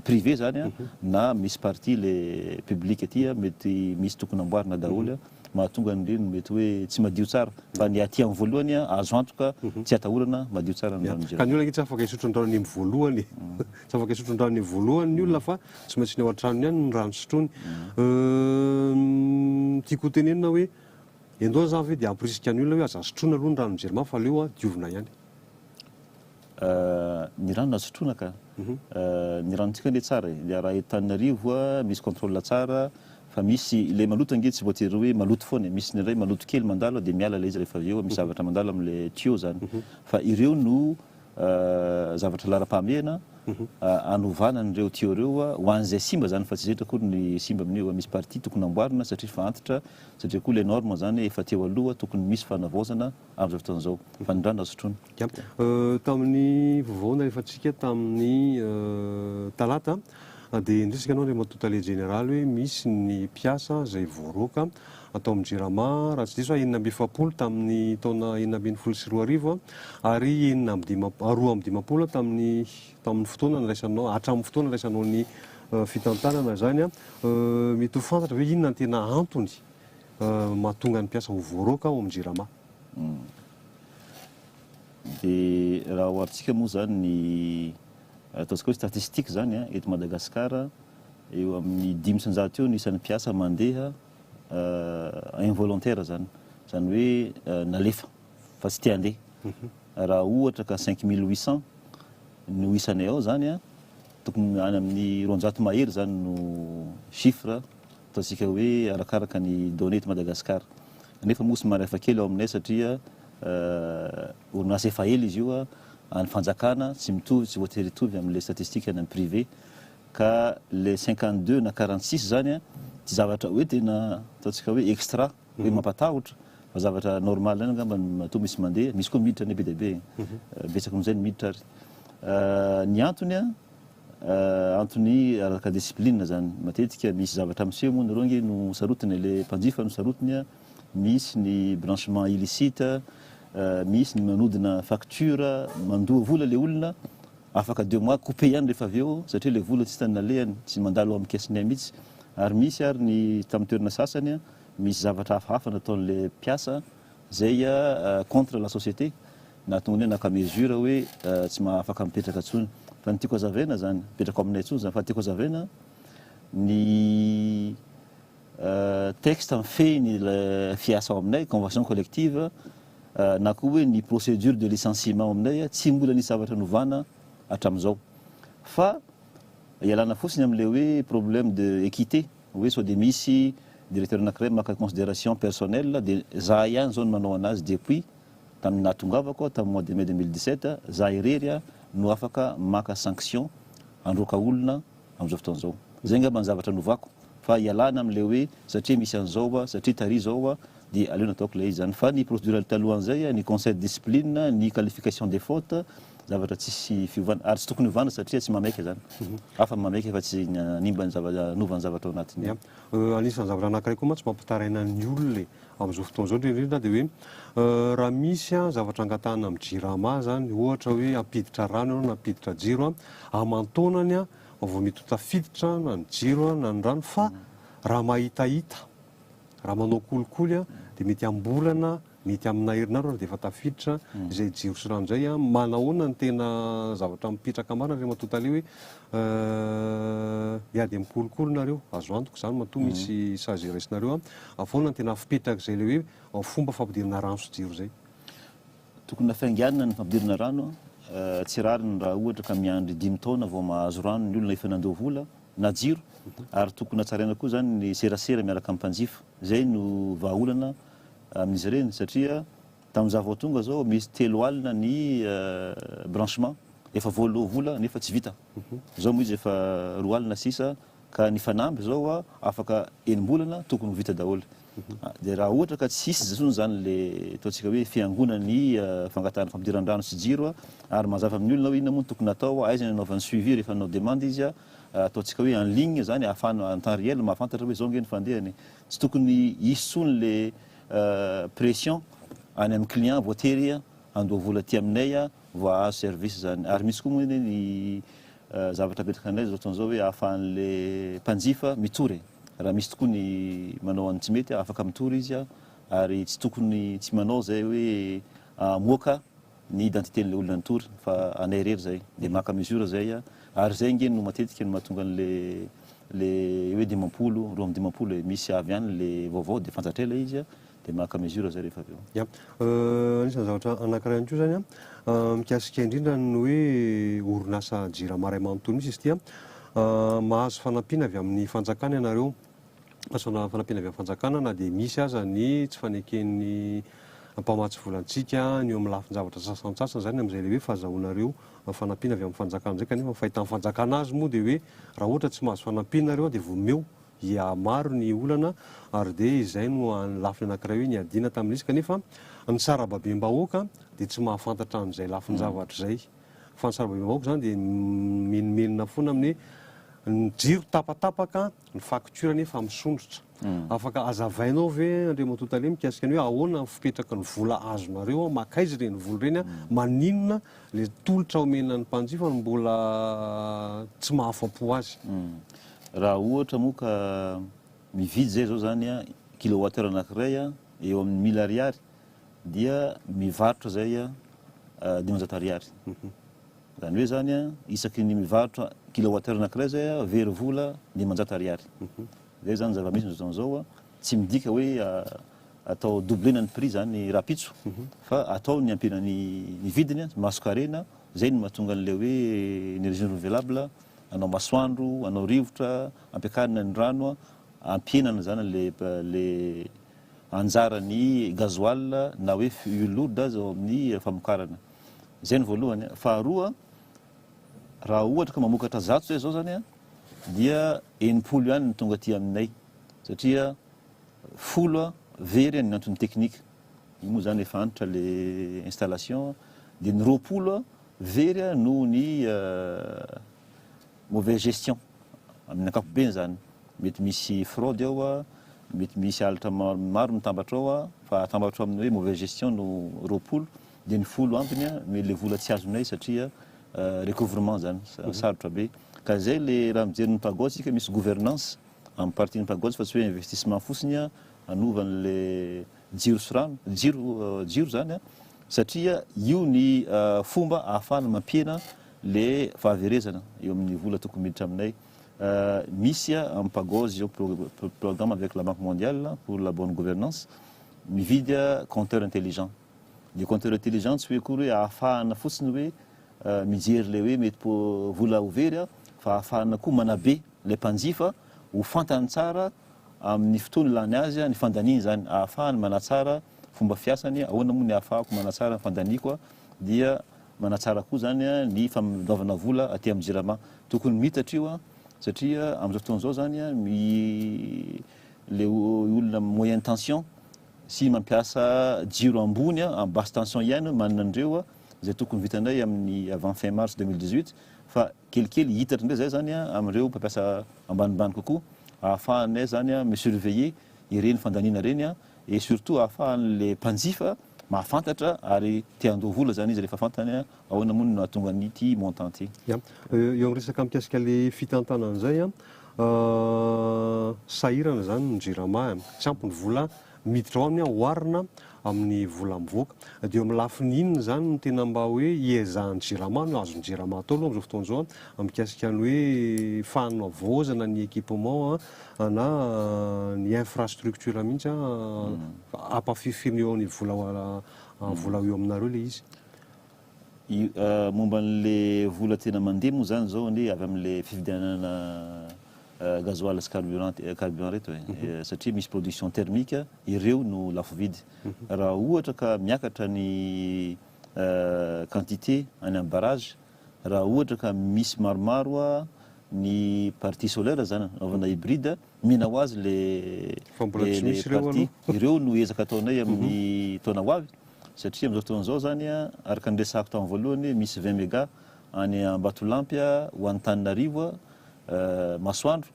privé izany na misy partie le public aty mety misy tokony amboarina daholo. mahatonga ny reny mety hoe tsy madio tsara fa ny aty amin'ny voalohany azo antoka tsy atahorana madio tsara ny ranon'ny Ka ny olona ange tsy afaka hisotro ny ranony amin'ny voalohany e. Tsy afaka hisotro ny ranony amin'ny voalohany ny olona fa tsy maintsy ny ao an-tranony ihany ny rano sotroiny. Ny tiako hotenenina hoe endoa za ve dia hampirisika ny olona hoe aza sotroina aloha ny ranon'i Jirama fa aleo diovina ihany. Ny rano nasotroina ka. Ny ranontsika anie tsara e. Dia raha eto Antananarivo a, misy contrôle tsara fa misy ilay maloto ange tsy voatery hoe maloto foana e. Misy ny iray maloto kely mandalo dia miala ilay izy rehefa avy eo misy zavatra mandalo amin'ilay tuyau zany. Fa ireo no zavatra laharam-pahamehana hanovana an'ireo tuyau ireo ho an'izay simba zany fa tsy zetra akory ny simba amin'io. Misy partie tokony amboarina satria efa antitra satria koa ilay norme zany efa teo aloha tokony misy fanavaozana. Amin'izao fotoana izao, fa ny rano sotroina. Ya. Tamin'ny vaovao nalefantsika tamin'ny talata dia nirisika anao Andriamatoa Tale Jeneraly hoe misy ny mpiasa izay voaroaka tao amin'ny Jirama, raha tsy diso aho enina amby efapolo tamin'ny taona enina ambin'ny folo sy roa arivo ary enina amby dimampolo, roa amby dimampolo tamin'ny tamin'ny fotoana niraisanao, hatramin'ny fotoana niraisanao ny fitantanana izany. Mety ho fantatra ve inona no tena antony? mahatonga ny mpiasa ho voaroaka ao amin'ny Jirama. Dia raha oharintsika moa izany ny ataontsika hoe statistique izany an, eto Madagasikara, eo amin'ny dimy isan-jato eo ny isan'ny mpiasa mandeha involontaire izany, izany hoe nalefa fa tsy te handeha. Raha ohatra ka cinq mille huit cent no isanay ao izany an, tokony any amin'ny roanjato mahery izany no chiffre. Ataontsika hoe arakaraka ny données eto Madagascar. Nefa moa somary hafa kely ao aminay satria orinasa efa ela izy io, an'ny fanjakana, tsy mitovy, tsy voatery hitovy amin'ilay statistique any amin'ny privé. Ka ilay cinquante deux na quarante six izany tsy zavatra hoe tena ataontsika hoe extra, hoe mampatahotra, fa zavatra normal ihany angamba no matoa misy mandeha. Misy koa miditra ny be dia be, betsaka noho izay ny miditra ary ny antony. Antony araka discipline zany. Matetika misy zavatra miseho moa ny rongy no sarotiny ilay mpanjifa no sarotiny, misy ny blanchiment illicite, misy ny manodina facture, mandoa vola ilay olona, afaka deux mois coupe ihany rehefa avy eo satria ilay vola tsy hitan'ny nalehany, tsy mandalo amin'ny caisse-ny ay mihitsy. Ary misy ary ny tamin'ny toerana sasany misy zavatra hafahafa nataon'ilay mpiasa, Zay contre la société nahatonga ny hoe naka mesure hoe tsy mahafaka mipetraka tsony fa ny tiako azavaina zany mipetraka ao aminay tsony zany fa tiako azavaina ny texte mifehy ny fiasa ao aminay convention collective na koa hoe ny procedure de licenciement ao aminay tsy mbola nisy zavatra novana hatramizao fa ialana fotsiny amle hoe problème de équité hoe sao dia misy directeur anakiray maka consideration personnel dia zah ihany zao no manao anazy depuis tamin'ny nahatongavako tamin'ny mois de mai 2017 zah irery no afaka maka sanction handroaka olona amin'izao fotoana izao zay ngamba ny zavatra novako fa ialana amin'ilay hoe satria misy an'izao satria tary izao Dia aleo nataoko ilay izy zany. Fa ny procédural talohan'izay, ny conseil de discipline, ny qualification des fautes, zavatra tsisy fiovana. Ary tsy tokony hovana satria tsy mameika zany. Hafa ny mameika fa tsy ny hanimba ny zava- hanova ny zavatra ao anatiny. Ia. Eo anisan'ny zavatra anankiray koa mantsy mampitaraina ny olona e, amin'izao fotoana izao indrindra indrindra dia hoe raha misy an, zavatra angatahana amin'ny jirama izany, ohatra hoe hampiditra rano ianao na hampiditra jiro an, aman-taonany an, vao mety ho tafiditra na ny jiro an, na ny rano fa raha mahitahita, Raha manao kolikoly a, dia mety am-bolana, mety amina herinandro ary dia efa tafiditra izay jiro sy rano izay a. Manahoana ny tena zavatra mipetraka marina ry ramatoa tale hoe miady amin'ny kolikoly nareo? Azo antoka izany matoa misy sazy iraisinareo a. Ahoana ny tena fipetrak'izay ilay hoe fomba fampidirana rano sy jiro izay? Tokony hafainganina ny fampidirana rano a. Tsy rariny raha ohatra ka miandry dimy taona vao mahazo rano ny olona efa nandoa vola. na jiro ary tokony hatsaraina koa izany ny serasera miaraka amin'ny mpanjifa, izay no vahaolana amin'izy ireny satria tamin'izaho vao tonga izao misy telo alina ny branchement efa voaloa vola nefa tsy vita, izao moa izy efa roa alina sisa ka ny fanamby izao afaka enim-bolana tokony ho vita daholo. Dia raha ohatra ka tsy hisy intsony izany ilay ataontsika hoe fiangonan'ny fangatahana fampidiran-drano sy jiro ary mazava amin'ny olona hoe inona moa no tokony hatao, aiza no anaovany suivi rehefa nanao demande izy, ataontsika hoe en ligne izany ahafahana en temps réel mahafantatra hoe izao ange ny fandehany. Tsy tokony hisy intsony ilay pression any amin'ny client voatery handoa vola aty aminay vao hahazo service izany. Ary misy koa moa anie ny zavatra apetraka indray izao fotoana izao hoe ahafahan'ilay mpanjifa mitory e. Raha misy tokoa ny manao ny tsy mety, afaka mitory izy ary tsy tokony tsy manao izay hoe hamoaka ny identité-n'ilay olona nitory fa anay irery izay. Dia maka mesure izay ary izay ange no matetika no mahatonga an'ilay hoe dimampolo, roa amby dimampolo e, misy avy any ilay vaovao dia fantatray ilay izy dia maka mesure zay rehefa avy eo. Ya, anisan'ny zavatra anankiray ihany koa zany mikasika indrindra ny hoe orinasa Jirama iray manontolo mihitsy izy ity. Mahazo fanampiana avy amin'ny fanjakana ianareo, mahazo fanampiana avy amin'ny fanjakana na dia misy aza ny tsy faneken'ny mpamatsy vola antsika ny eo amin'ny lafin-javatra sasantsasany zany amin'izay ilay hoe fahazahoanareo fanampiana avy amin'ny fanjakana izay kanefa ny fahitan'ny fanjakana azy moa dia hoe raha ohatra tsy mahazo fanampiana nareo dia vao omeo dia maro ny olana ary dia izay no an'ny lafiny anankiray hoe niadiana tamin'izy kanefa ny sarababem-bahoaka dia tsy mahafantatra an'izay lafin-javatra izay fa ny sarababem-bahoaka izany dia mimenomenona foana amin'ny hoe ny jiro tapatapaka, ny facture anefa misondrotra. Afaka azavainao ve Andriamatoa Tale mikasika ny hoe ahoana ny fipetraky ny vola azonareo ao, makaiza ireny vola ireny an, maninona ilay tolotra omena ny mpanjifa no mbola tsy mahafapo azy. Raha ohatra moa ka mividy zay zao zany a kilowattheure anankiray a eo amin'ny mille ariary dia mivarotra zay a dimanjato ariary. Zany hoe zany a isaky ny mivarotra kilowattheure anankiray zay a very vola dimanjato ariary. Zay zany zava-misy amizao fotoana zao a. Tsy midika hoe atao doublena ny prix zany rahampitso fa atao ny hampiana ny vidiny, mahasokarena, zay no mahatonga an'ilay hoe energie renouvelable Anao masoandro, anao rivotra, ampiakarina ny rano, ampihenana izany ilay anjaran'ny gasoil na hoe fuel lourde aza ao amin'ny famokarana. Izay ny voalohany. Faharoa, raha ohatra ka mamokatra zato izay izao izany dia enimpolo ihany no tonga aty aminay satria folo very ny antony teknika. Io moa izany efa antitra ilay installation. Dia ny roapolo very noho ny mauvaise gestion amin'ny ankapobeny zany mety misy fraude ao mety misy alatra maro mitambatra ao fa atambatra amin'ny hoe mauvaise gestion no roapolo dia ny folo ambiny no le vola tsy azonay satria recouvrement zany sarotra be ka zay le raha mijery ny pagods tsika misy gouvernance amin'ny partie ny pagods fa tsy hoe investissement fotsiny anovan'le jiro sy rano, jiro jiro izany an, satria io ny fomba ahafahana mampihena ilay fahaverezana eo amin'ny vola tokony miditra aminay. Misy amin'ny Pagos izao programme avec la Banque mondiale pour la bonne gouvernance mividy compteur intelligent. Ny compteur intelligent tsy hoe akory hoe ahafahana fotsiny hoe mijery ilay hoe mety vola ho very fa ahafahana koa manabe ilay mpanjifa Ho fantany tsara amin'ny fotoana ilàny azy ny fandaniany izany, ahafahany manatsara fomba fiasany, ahoana moa ny ahafahako manatsara ny fandaniako, dia manatsara koa izany ny famelombavana vola aty amin'ny Jirama. Tokony miitatra io satria amin'izao fotoana izao izany ilay olona moyenne tension sy mampiasa jiro ambony amin'ny basse tension ihany manana an'ireo izay tokony vitanay amin'ny avant fin mars deux mille dix-huit fa kelikely hita hatr'indray izay izany amin'ireo mpampiasa ambanimbany kokoa ahafahan'ilay izany mi-surveiller ireny fandaniana ireny et surtout ahafahan'ilay mpanjifa mahafantatra ary te handoa vola izany izy rehefa fantany ahoana moa no nahatonga an'ity montant ity. Ya, eo amin'ny resaka mikasika ilay fitantanana izay an, sahirana izany ny jirama, tsy ampy ny vola. miditra ao aminy oharina amin'ny vola mivoaka. Dia eo amin'ny lafiny inona izany no tena mba hoe iezahan'ny Jirama no azon'ny Jirama atao aloha amin'izao fotoana izao an, mikasika ny hoe fanavaozana ny équipement na ny infrastructure mihitsy an, ampahafifirina eo amin'ny vola vola eo aminareo ilay izy. Momba an'le vola tena mandeha moa zany zao anie avy amle fividianana gasoil sy carburant carburant reto e, satria misy production thermique ireo no lafo vidy. Raha ohatra ka miakatra ny quantité any am barrage, raha ohatra ka misy maromaro ny partie solaire zany anaovana hybride, omena ho azy le le partie. Ireo no ezaka ataonay amin'ny taona ho avy. satria amin'izao fotoana izao izany, araka ny resahako tamin'ny voalohany, misy vingt mega any Ambatolampy ho an'Antananarivo masoandro,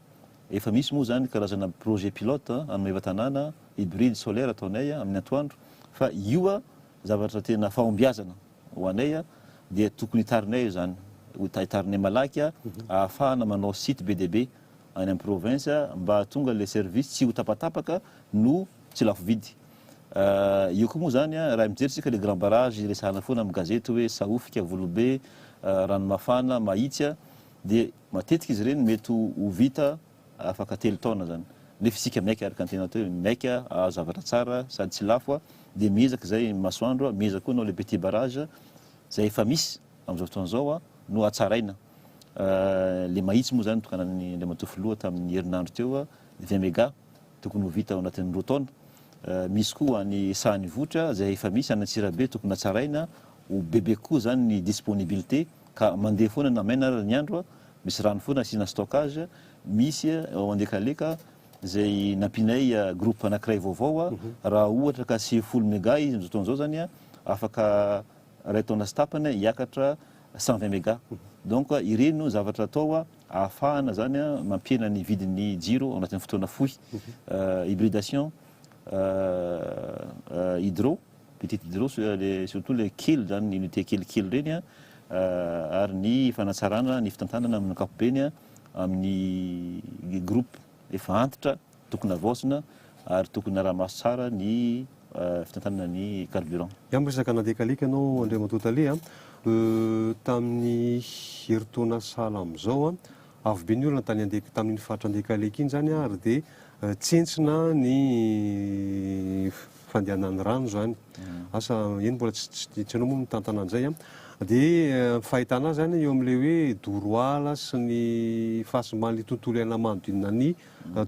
efa misy moa izany karazana projet pilote any Maevatanàna, hybride solaire ataonay amin'ny antoandro, fa io zavatra tena fahombiazana ho anay dia tokony hitarinay izany, hitarinay malaky ahafahana manao site be dia be any amin'ny province mba hahatonga ilay service tsy ho tapatapaka no tsy lafo vidy. Io koa moa izany a, raha mijery tsika le grand barrage iresahana foana amin'ny gazety hoe Sahofika, Volobe, Ranomafana, Mahitsy a, dia matetika izy ireny mety ho vita afaka telo taona izany. Nefa isika miaiky araka ny tenanao teo hoe miaiky ahazo zavatra tsara sady tsy lafo a, dia miezaka izay masoandro a, miezaka koa anao le petit barrage izay efa misy amin'izao fotoana izao a no hatsaraina. Le Mahitsy moa izany notokanan'ny Andriamatoa Filoha tamin'ny herinandro teo a, vingt mégas. tokony ho vita ao anatin'ny roa taona. Misy koa any Sahan'ny Vohitra izay efa misy, any Antsirabe tokony hatsaraina, ho bebe kokoa izany ny disponibilité ka mandeha foana na maina ary ny andro, misy rano foana asiana stockage. Misy ao Andekaleka izay nampianay groupe anankiray vaovao, raha ohatra ka sivifolo mega izy amin'izao fotoana izao izany, afaka iray taona sy tapany hiakatra cent vingt mega. Donc ireny no zavatra atao. ahafahana zany mampihena ny vidin'ny jiro ao anatin'ny fotoana fohy, hybridation, hydro, petite hydro, surtout le kely zany, ny unité kelikely ireny, ary ny fanatsarana ny fitantanana amin'ny ankapobeny amin'ny groupe efa antitra Tokony havaozina ary tokony araha-maso tsara ny fitantanana ny carburant. Ianao miresaka nandeha kalika ianao Andriamatoa Tale a! tamin'ny herintaona sahala amin'izao a! avo be ny olona tany Ande- tamin'iny faritra Andekaleka iny izany a! ary dia tsentsina ny fandehanan'ny rano izany. Asa eny mbola tsy tsy tsy hainao moa mitantana an'izay a! dia ny fahitana azy any eo amin'ilay hoe doro ala sy ny fahasimban'ilay tontolo iainana manodidina ny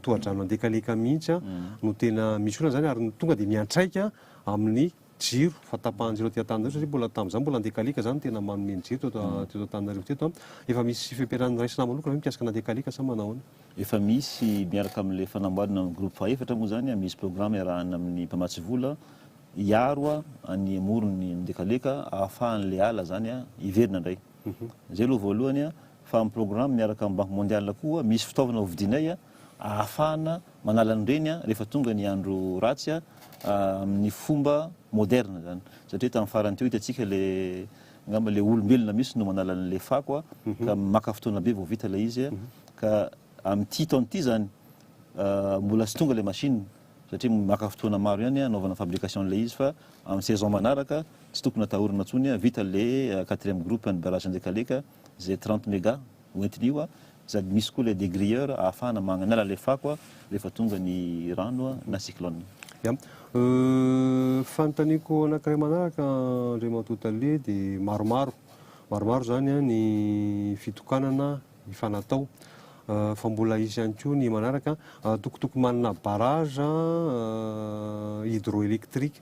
tohadrano andekaleka mihitsy no tena misy olana izany ary ny tonga dia miantraika amin'ny jiro, fahatapahan-jiro aty Antananarivo satria mbola tamin'izany mbola andekaleka izany no tena manome ny jiro teto Antananarivo teto. Efa misy fiampianarana raisina manokana ve mikasika ny andekaleka sa manao ahoana? Efa misy, miaraka amin'ilay fanamboarana ny groupe fahefatra moa izany, misy programa iarahana amin'ny mpamatsy vola hiaro ny amoron'ny andekaleka ahafahan'ilay ala izany hiverina indray. Izay aloha voalohany fa amin'ny programme miaraka amin'ny Banque Mondiale koa misy fitaovana hovidianay ahafahana manala an'ireny rehefa tonga ny andro ratsy amin'ny fomba moderne izany. Satria tamin'ny farany teo hitantsika ilay angamba ilay olombelona mihitsy no manala an'ilay fako ka maka fotoana be vao vita ilay izy ka amin'ity taona ity izany mbola tsy tonga ilay machine satria maka fotoana maro ihany hanaovana fabrication an'ilay izy fa amin'ny saison manaraka tsy tokony atahorana intsony vita ilay quatrième groupe an'ny barrage Andekaleka. Ze trente mega hoentiny io sady misy koa le degrilleur ahafahana magnala le fako rehefa tonga ny rano na cyclone. Ya. Fanontaniako anankiray manaraka Andriamatoa Tale dia maromaro, maromaro izany ny fitokanana efa natao fa mbola hisy ihany koa ny manaraka, tokotoko manana barrage hydroelectric.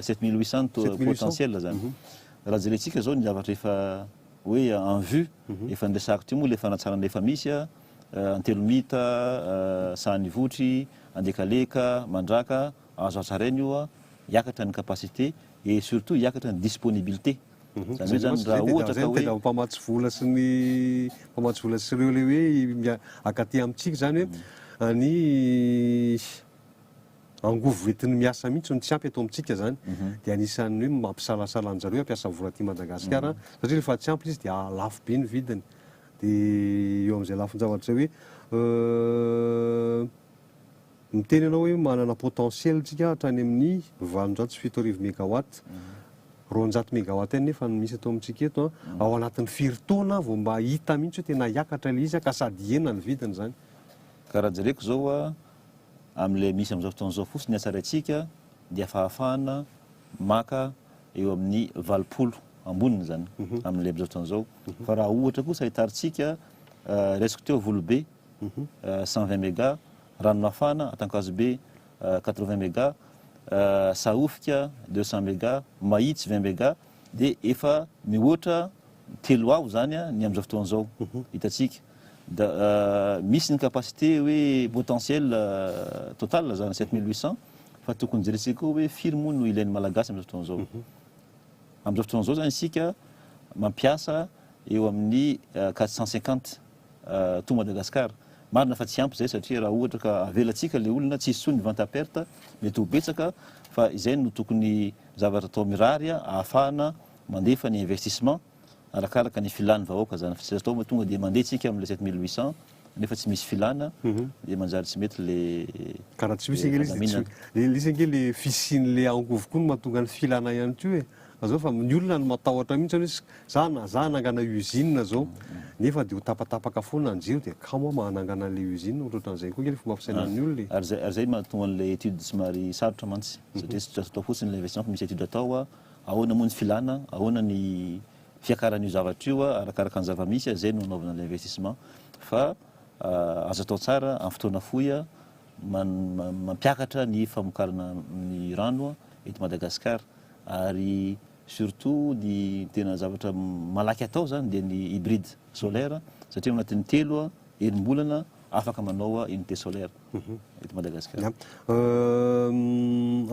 Sept mille huit cent Sept mille huit cent. potentiel zany. Raha jerentsika zao ny zavatra efa hoe en vue, efa niresahako teo moa le fanatsarana efa misy a, Antelomita, Sahanivotry, Andekaleka, Mandraka, azo hatsaraina io a, hiakatra ny capacité et surtout hiakatra ny disponibilité. Zany hoe zany raha ohatra ka hoe. Ny mpamatsy vola sy ny mpamatsy vola sy ireo le hoe mia- akaty amintsika zany hoe any angovo entiny miasa mihitsy no tsy ampy eto amintsika zany dia anisan'ny hoe mampisalasala anjareo hampiasa vola aty Madagascar satria rehefa tsy ampy izy dia lafo be ny vidiny dia eo amin'izay lafin-javatra zay hoe miteny ianao hoe manana potentiel tsika hatrany amin'ny valonjato sy fito arivo megawatt roanjato megawatt ihany nefa no misy eto amintsika eto an ao anatin'ny firy taona vao mba hita mihitsy hoe tena hiakatra ilay izy ka sady hihena ny vidiny zany ka raha jereko zao an amin'ilay misy amin'izao fotoana izao fotsiny ny hatsaraintsika dia fahafahana maka eo amin'ny valopolo amboniny izany amin'ilay amin'izao fotoana izao fa raha ohatra kosa hitarintsika raisiko teo volobe cent vingt mega ranomafana atankazobe quatre vingt mega sahofika deux cent mega mahitsy vingt mega Dia efa mihoatra telo ao izany ny amin'izao fotoana izao hitantsika. Da misy ny capacité hoe potentiel total izany sept mille huit cents fa tokony jerentsika koa hoe firy moa no ilain'ny Malagasy amin'izao fotoana izao. Amin'izao fotoana izao izany isika mampiasa eo amin'ny quatre cent cinquante. to Madagascar. Marina fa tsy ampy izay satria raha ohatra ka avelantsika ilay olona tsy hisy intsony ny vente à perte mety ho betsaka fa izay no tokony zavatra atao mirary ahafahana mandefa ny investissement arakaraka ny filan'ny vahoaka izany fa tsy azo atao fa tonga dia mandeha tsika amin'ilay sept mille huit cents nefa tsy misy filana mhm. dia manjary tsy mety le ka raha tsy misy ange le izy ange le fisian'le angovo koa no mahatonga ny filana ihany koa e Azao fa ny olona no matahotra mihitsy hoe za za hanangana usine zao nefa de ho tapatapaka foana ny jiro de kamo aho mba hanangana an'ilay usine, ohatrohatran'izay koa kely ny fomba fisainan'ny olona e. Ary zay ary zay mahatonga an'ilay étude somary sarotra mantsy satria tsy azo atao fotsiny ilay investissement fa misy étude atao hoe ahoana moa ny filana, ahoana ny fiakaran'io zavatra io arakaraka ny zava-misy zay no anaovana ilay investissement fa azo atao tsara amin'ny fotoana fohy mampiakatra ny famokarana ny rano eto Madagascar. ary surtout ny tena zavatra malaky atao zany dia ny hybride solaire satria ao anatin'ny telo a enim-bolana afaka manao a unité solaire eto Madagasikara.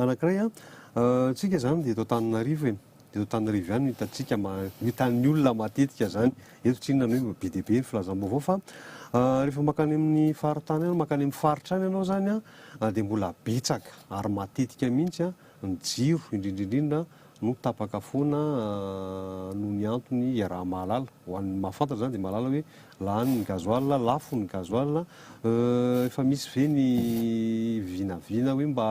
Anankiray a, tsika zany dia eto Antananarivo e, eto Antananarivo ihany no hitantsika ma- no hitan'ny olona matetika zany, eto tsy inona no hoe be dia be ny filazam-baovao fa rehefa mankany amin'ny faritany any, mankany amin'ny faritra any ianao zany a dia mbola betsaka ary matetika mihitsy a, Ny jiro, indrindra indrindra, no tapaka foana noho ny antony iaraha-mahalala. Ho an'ny mahafantatra izany dia mahalala hoe lany ny gasoil, lafo ny gasoil. Efa misy ve ny vinavina hoe mba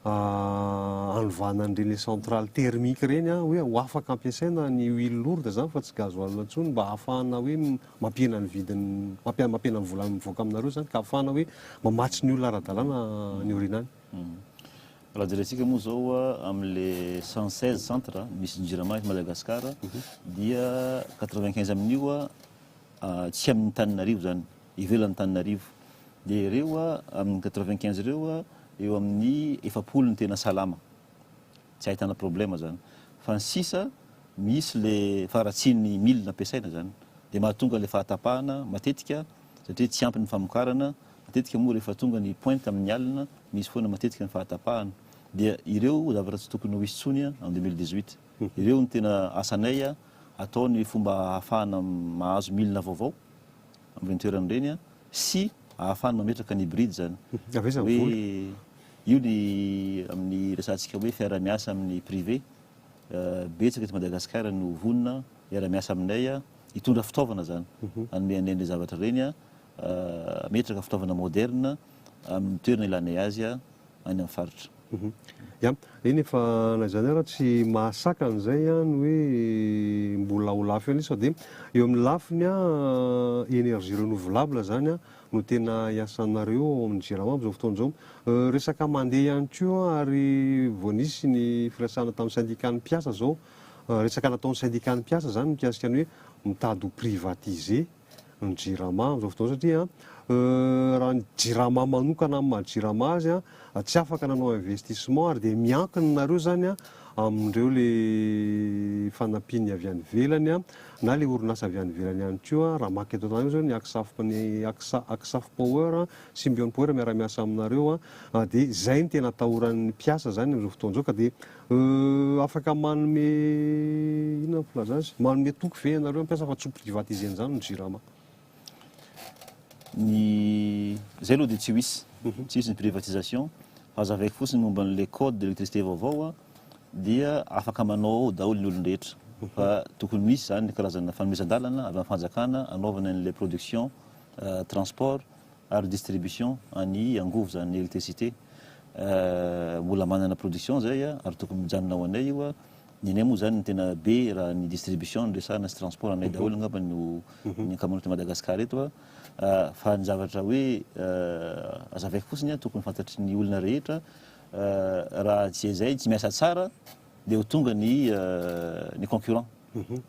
hanovana an'ireny centrale thermique ireny hoe ho afaka ampiasaina ny huile lourde izany fa tsy gasoil intsony mba hahafahana hoe mampihena ny vidiny, mampihena ny vola mivoaka aminareo izany ka hahafahana hoe mamatsy ny olona ara-dalàna any aoriana any. Raha jerentsika moa zao amle cent seize centre misy ny jirama eto Madagascar dia quatre vingt quinze amin'io tsy amin'ny tanin'arivo zany ivelan'ny tanin'arivo dia ireo amin'ny quatre vingt quinze ireo eo amin'ny efapolo ny tena salama tsy ahitana problema zany fa ny sisa misy le faharatsian'ny milina ampiasaina zany dia mahatonga le fahatapahana matetika satria tsy ampy ny famokarana Matetika moa rehefa tonga ny pointe amin'ny alina, misy foana matetika ny fahatapahana. Dia ireo zavatra tsy tokony ho hisy intsony en 2018. Ireo no tena asanay atao ny fomba ahafahana mahazo milina vaovao amin'ireny toerana ireny sy ahafahana mametraka ny bride izany. Hoe io ny amin'ny resahantsika hoe fiaraha-miasa amin'ny privé. Betsaka eto Madagasikara no vonona hiara-miasa aminay hitondra fitaovana izany hanome anay an'ireny zavatra ireny. Hametraka fitaovana moderina amin'ny toerana ilanay azy any amin'ny faritra. Ya, eny e, fa na izany ara tsy mahasakana izay ny hoe mbola ho lafo ihany izy fa dia eo amin'ny lafiny énergie renouvelable izany no tena iasanareo ao amin'ny Jirama amin'izao fotoana izao. Resaka mandeha ihany koa ary vao nisy ny firesahana tamin'ny syndicat-n'ny mpiasa izao, resaka nataon'ny syndicat-n'ny mpiasa izany mikasika ny hoe mitady ho privatiser. ny jirama amin'izao fotoana satria raha ny jirama manokana amin'ny maha jirama azy dia tsy afaka nanao investissement ary dia miankina nareo izany amin'ireo ilay fanampiany avy any ivelany na ilay orinasa avy any ivelany ihany koa raha maka eto an-tanàna izao ny Aksafp ny Aksa Aksafp Power Symbion Power miara-miasa aminareo dia izay no tena atahoran'ny mpiasa izany amin'izao fotoana izao ka dia Euh afaka manome inona ny filaza azy? Manome toky ve ianareo hampiasa fa tsy ho privatiser-ny izany ny Jirama? Ny izay aloha dia tsy ho hisy, mhm. tsy hisy ny privatisation fa azavaiko fotsiny ny momba an'ilay code de l'électricité vaovao a dia afaka manao ao daholo ny olon-drehetra mhm. fa tokony misy izany karazana fanomezan-dalana avy amin'ny fanjakana anaovana an'ilay production euh, transport ary distribution any angovo izany electricité mbola manana production zay ary tokony mijanona ho anay io ny anay moa izany ny tena be raha ny distribution no resahana sy transport anay daholo angamba no mhm. ny ankamaroan'i Madagascar eto fa ny zavatra hoe azavaiko fotsiny tokony fantatry ny olona rehetra raha tsy izay tsy miasa tsara Dia ho tonga ny ny concurrent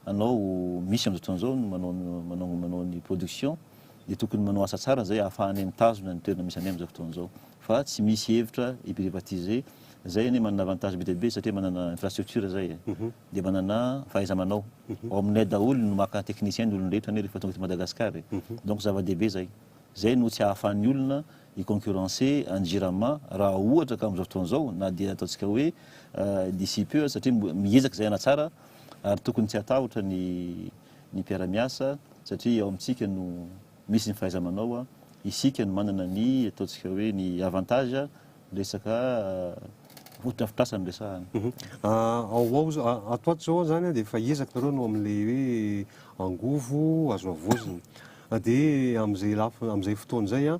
anao misy amin'izao fotoana izao no manao manao manao ny production dia tokony manao asa tsara izay ahafahanay mitazona ny toerana misy anay amin'izao fotoana izao fa tsy misy hevitra hi-privatiser izay anie manana avantage be dia be satria manana infrastructure izay e mhm. dia manana fahaiza-manao mhm. ao aminay daholo no maka technicien ny olon-drehetra anie rehefa tonga eto Madagasikara e mhm. donc zava-dehibe izay Izay no tsy ahafahan'ny olona hi-concurrencer an'i Jirama raha ohatra ka amin'izao fotoana izao na dia ataontsika hoe d'ici peu aza satria miezaka izay hanatsara ary tokony tsy hatahotra ny ny mpiara-miasa satria ao amintsika no misy ny fahaiza-manao, isika no manana ny ataontsika hoe ny avantage Resaka fotodrafitrasa no resahana. Ao ao ato ato izao izany dia efa ezaka ireo no amin'ilay hoe angovo azo havaozina. Dia amin'izay lafiny amin'izay fotoana izay an,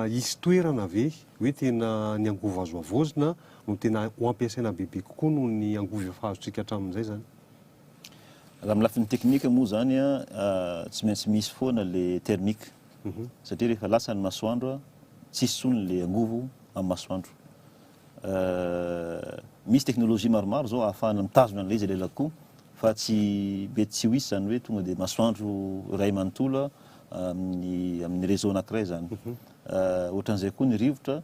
hisy toerana ve hoe tena ny angovo azo havaozina no tena ho ampiasaina bebe kokoa noho ny angovo efa azontsika hatramin'izay izany? Raha amin'ny lafiny teknika moa izany an, tsy maintsy misy foana ilay thermique. satria rehefa lasa ny masoandro tsisy tsony le angovo amin'ny masoandro misy teknolojia maromaro zao ahafahana mitazona an'ilay izy lelako koa fa tsy mety tsy ho hisy zany hoe tonga dia masoandro iray manontolo amin'ny amin'ny réseau anankiray zany mhm. ohatran'izay koa ny rivotra